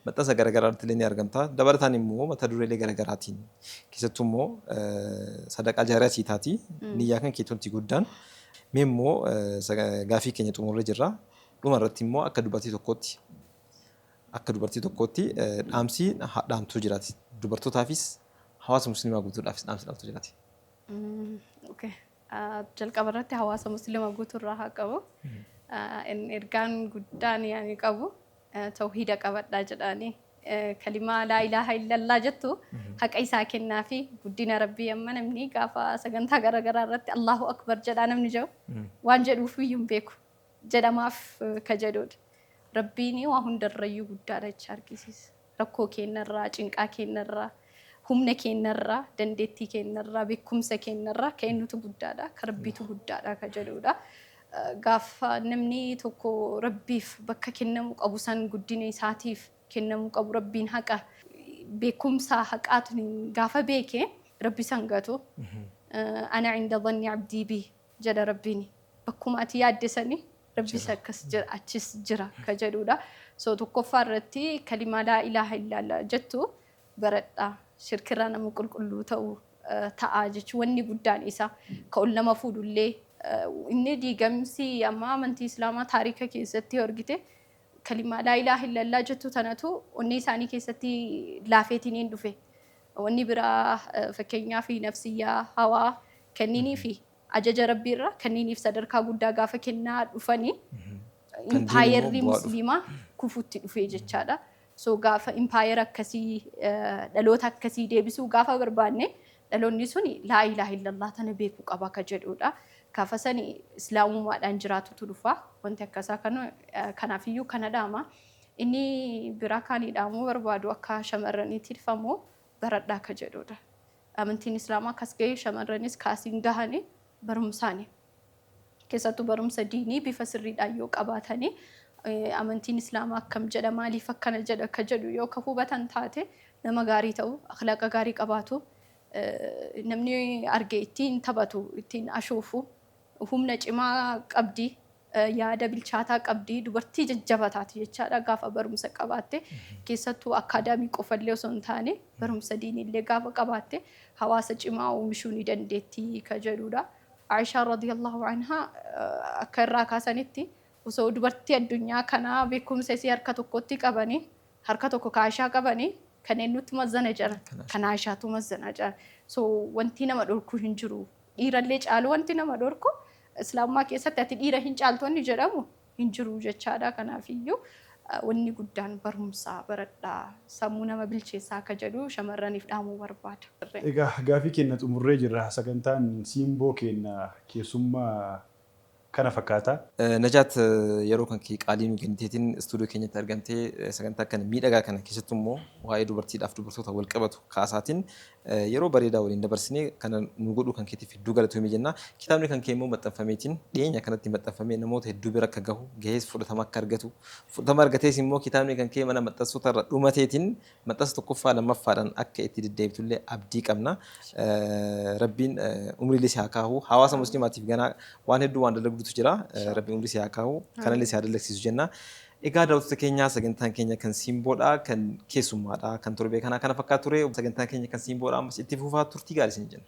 Maxxansa garaagaraa irratti illee ni argamta. Dabalataan immoo mata dureelee garaagaraatiin Keessattuu immoo sadaqaa jaariyaa sii taati. Niyyaa kan kee tunti guddaan. Mee immoo gaafii keenya xumurree jirra. Dhuma irratti immoo akka dubartii tokkootti akka dubartii tokkootti dhaamsi dhaamtuu jiraati. Dubartootaafis hawaasa musliimaa guutuudhaafis dhaamsi dhaamtuu jiraati. Jalqaba irratti hawaasa musliimaa guutuu irraa haa qabu. Ergaan guddaan yaani qabu. tawhiida qabadhaa jedhaanii kalimaa laa ilaaha illallaa jettu haqa isaa kennaa fi guddina rabbii amma namni gaafa sagantaa garaagaraa irratti allahu akbar jedhaa namni jedhu waan jedhuuf iyyuu hin beeku jedhamaaf ka jedhuudha. Rabbiin waa hundarrayyuu guddaadha jecha argisiisa. Rakkoo keenyarraa, cinqaa keenyarraa, Humna keenna irraa, dandeettii keenna irraa, beekkumsa keenna irraa ka eennutu guddaa dha? Ka Rabbiitu guddaa dha ka jedhuu dha. Gaafa namni tokko Rabbiif bakka kennamuu qabu san guddina isaatiif kennamuu qabu Rabbiin haqa beekkumsa haqaatiin gaafa beeke Rabbi isa hin gatu. Ana inda dhanni abdii bi jedha Rabbiin. Bakkuma ati yaadde sani Rabbis akkas jira achis jira ka jedhuu dha. So tokkoffaa irratti kalimaa laa ilaaha illaallah jettu baradha. Shirkirraa nama qulqulluu ta'u ta'a jechuun wanni guddaan isa ka ol nama fuudhu illee inni diigamsi amma amantii islaamaa taarika keessatti yoo argite kalimaa laa ilaaha illallaa jettu tanatu onnee isaanii keessatti laafeetiniin dhufe wanni biraa fakkeenyaa fi nafsiyyaa hawaa kenninii fi ajaja rabbiirra kenniiniif sadarkaa guddaa gaafa kennaa dhufanii Kan diin immoo impaayerri bu'aa dhufa. musliimaa kufutti dhufee jechaadha. So gaafa empire akkasii dhaloota akkasii deebisuu gaafa barbaanne dhaloonni suni laa ilaaha illallah tana beekuu qaba ka jedhuudha. Gaafa sani islaamumaadhaan jiraatutu dhufa. Wanti akkasaa kana kanaafiyyuu kana dhaama. Inni biraa kaanii dhaamuu barbaadu akka shamarraniitti dhifamu baradhaa ka jedhuudha. Amantiin islaamaa kas gahee shamarranis kaasiin gahani barumsaani. Keessattuu barumsa diinii bifa sirriidhaan yoo qabaatanii amantiin islaamaa akkam jedha maaliif akkana jedha akka jedhu yoo ka hubatan taate nama gaarii ta'u akhlaaqa gaarii qabaatu namni arge ittiin taphatu ittiin ashoofu humna cimaa qabdi yaada bilchaataa qabdi dubartii jajjaba taati jechaadha gaafa barumsa qabaatte keessattuu akkaadaamii qofallee osoo hin taane barumsa diiniillee gaafa qabaatte hawaasa cimaa oomishuu ni dandeetti ka jedhuudha. Aa'ishaan radiyallaahu anhaa akka irraa kaasanitti osoo dubartii addunyaa kanaa beekumsa isii harka tokkotti qabanii harka tokko ka Aa'ishaa qabanii kan eennuutu mazzana jedhan Kan Aa'ishaa. kan Aa'ishaatu mazzana jedhan so wantii nama dhorku hin jiru dhiirallee caalu wanti nama dhorku islaamummaa keessatti ati dhiira hin caaltu wanni jedhamu hin jiru jechaadha. Kanaafiyyuu wanni guddaan barumsa baradhaa sammuu nama bilcheessaa akka jedhu shamarraniif dhaamuu barbaada. Egaa gaaffii keenna xumurree jirra. Sagantaan Siimboo keenna keessummaa kana fakkaata. Najaat yeroo kan kee qaalii nuu kenniteetiin studio keenyatti argamtee sagantaa kana miidhagaa kana keessattuu immoo waa'ee dubartiidhaaf dubartoota wal qabatu kaasaatiin Yeroo bareedaa waliin dabarsine kana nuu godhuu kan keetiif hedduu galatoomi jenna. Kitaabni kan kee immoo maxxanfameetiin dhiyeenya kanatti maxxanfamee namoota hedduu bira akka gahu, gahees fudhatama akka argatu, fudhatama argatees immoo kitaabni kan kee mana maxxansoota irra dhumateetiin maxxansa tokkoffaa lammaffaadhaan akka itti deddeebitu illee abdii qabna. Rabbiin umrii illee si haa kaahu. Hawaasa muslimaatiif ganaa waan hedduu waan dalagdutu jira. Rabbiin umrii si haa kaahu. Kana illee si haa dalagsiisu jenna. Egaa daawwattoota keenya sagantaan keenya kan Siimboodha kan keessummaadha kan torbee kanaa kana fakkaata ture sagantaan keenya kan Siimboodha ammas itti fufaa turtii gaarii isin jenna.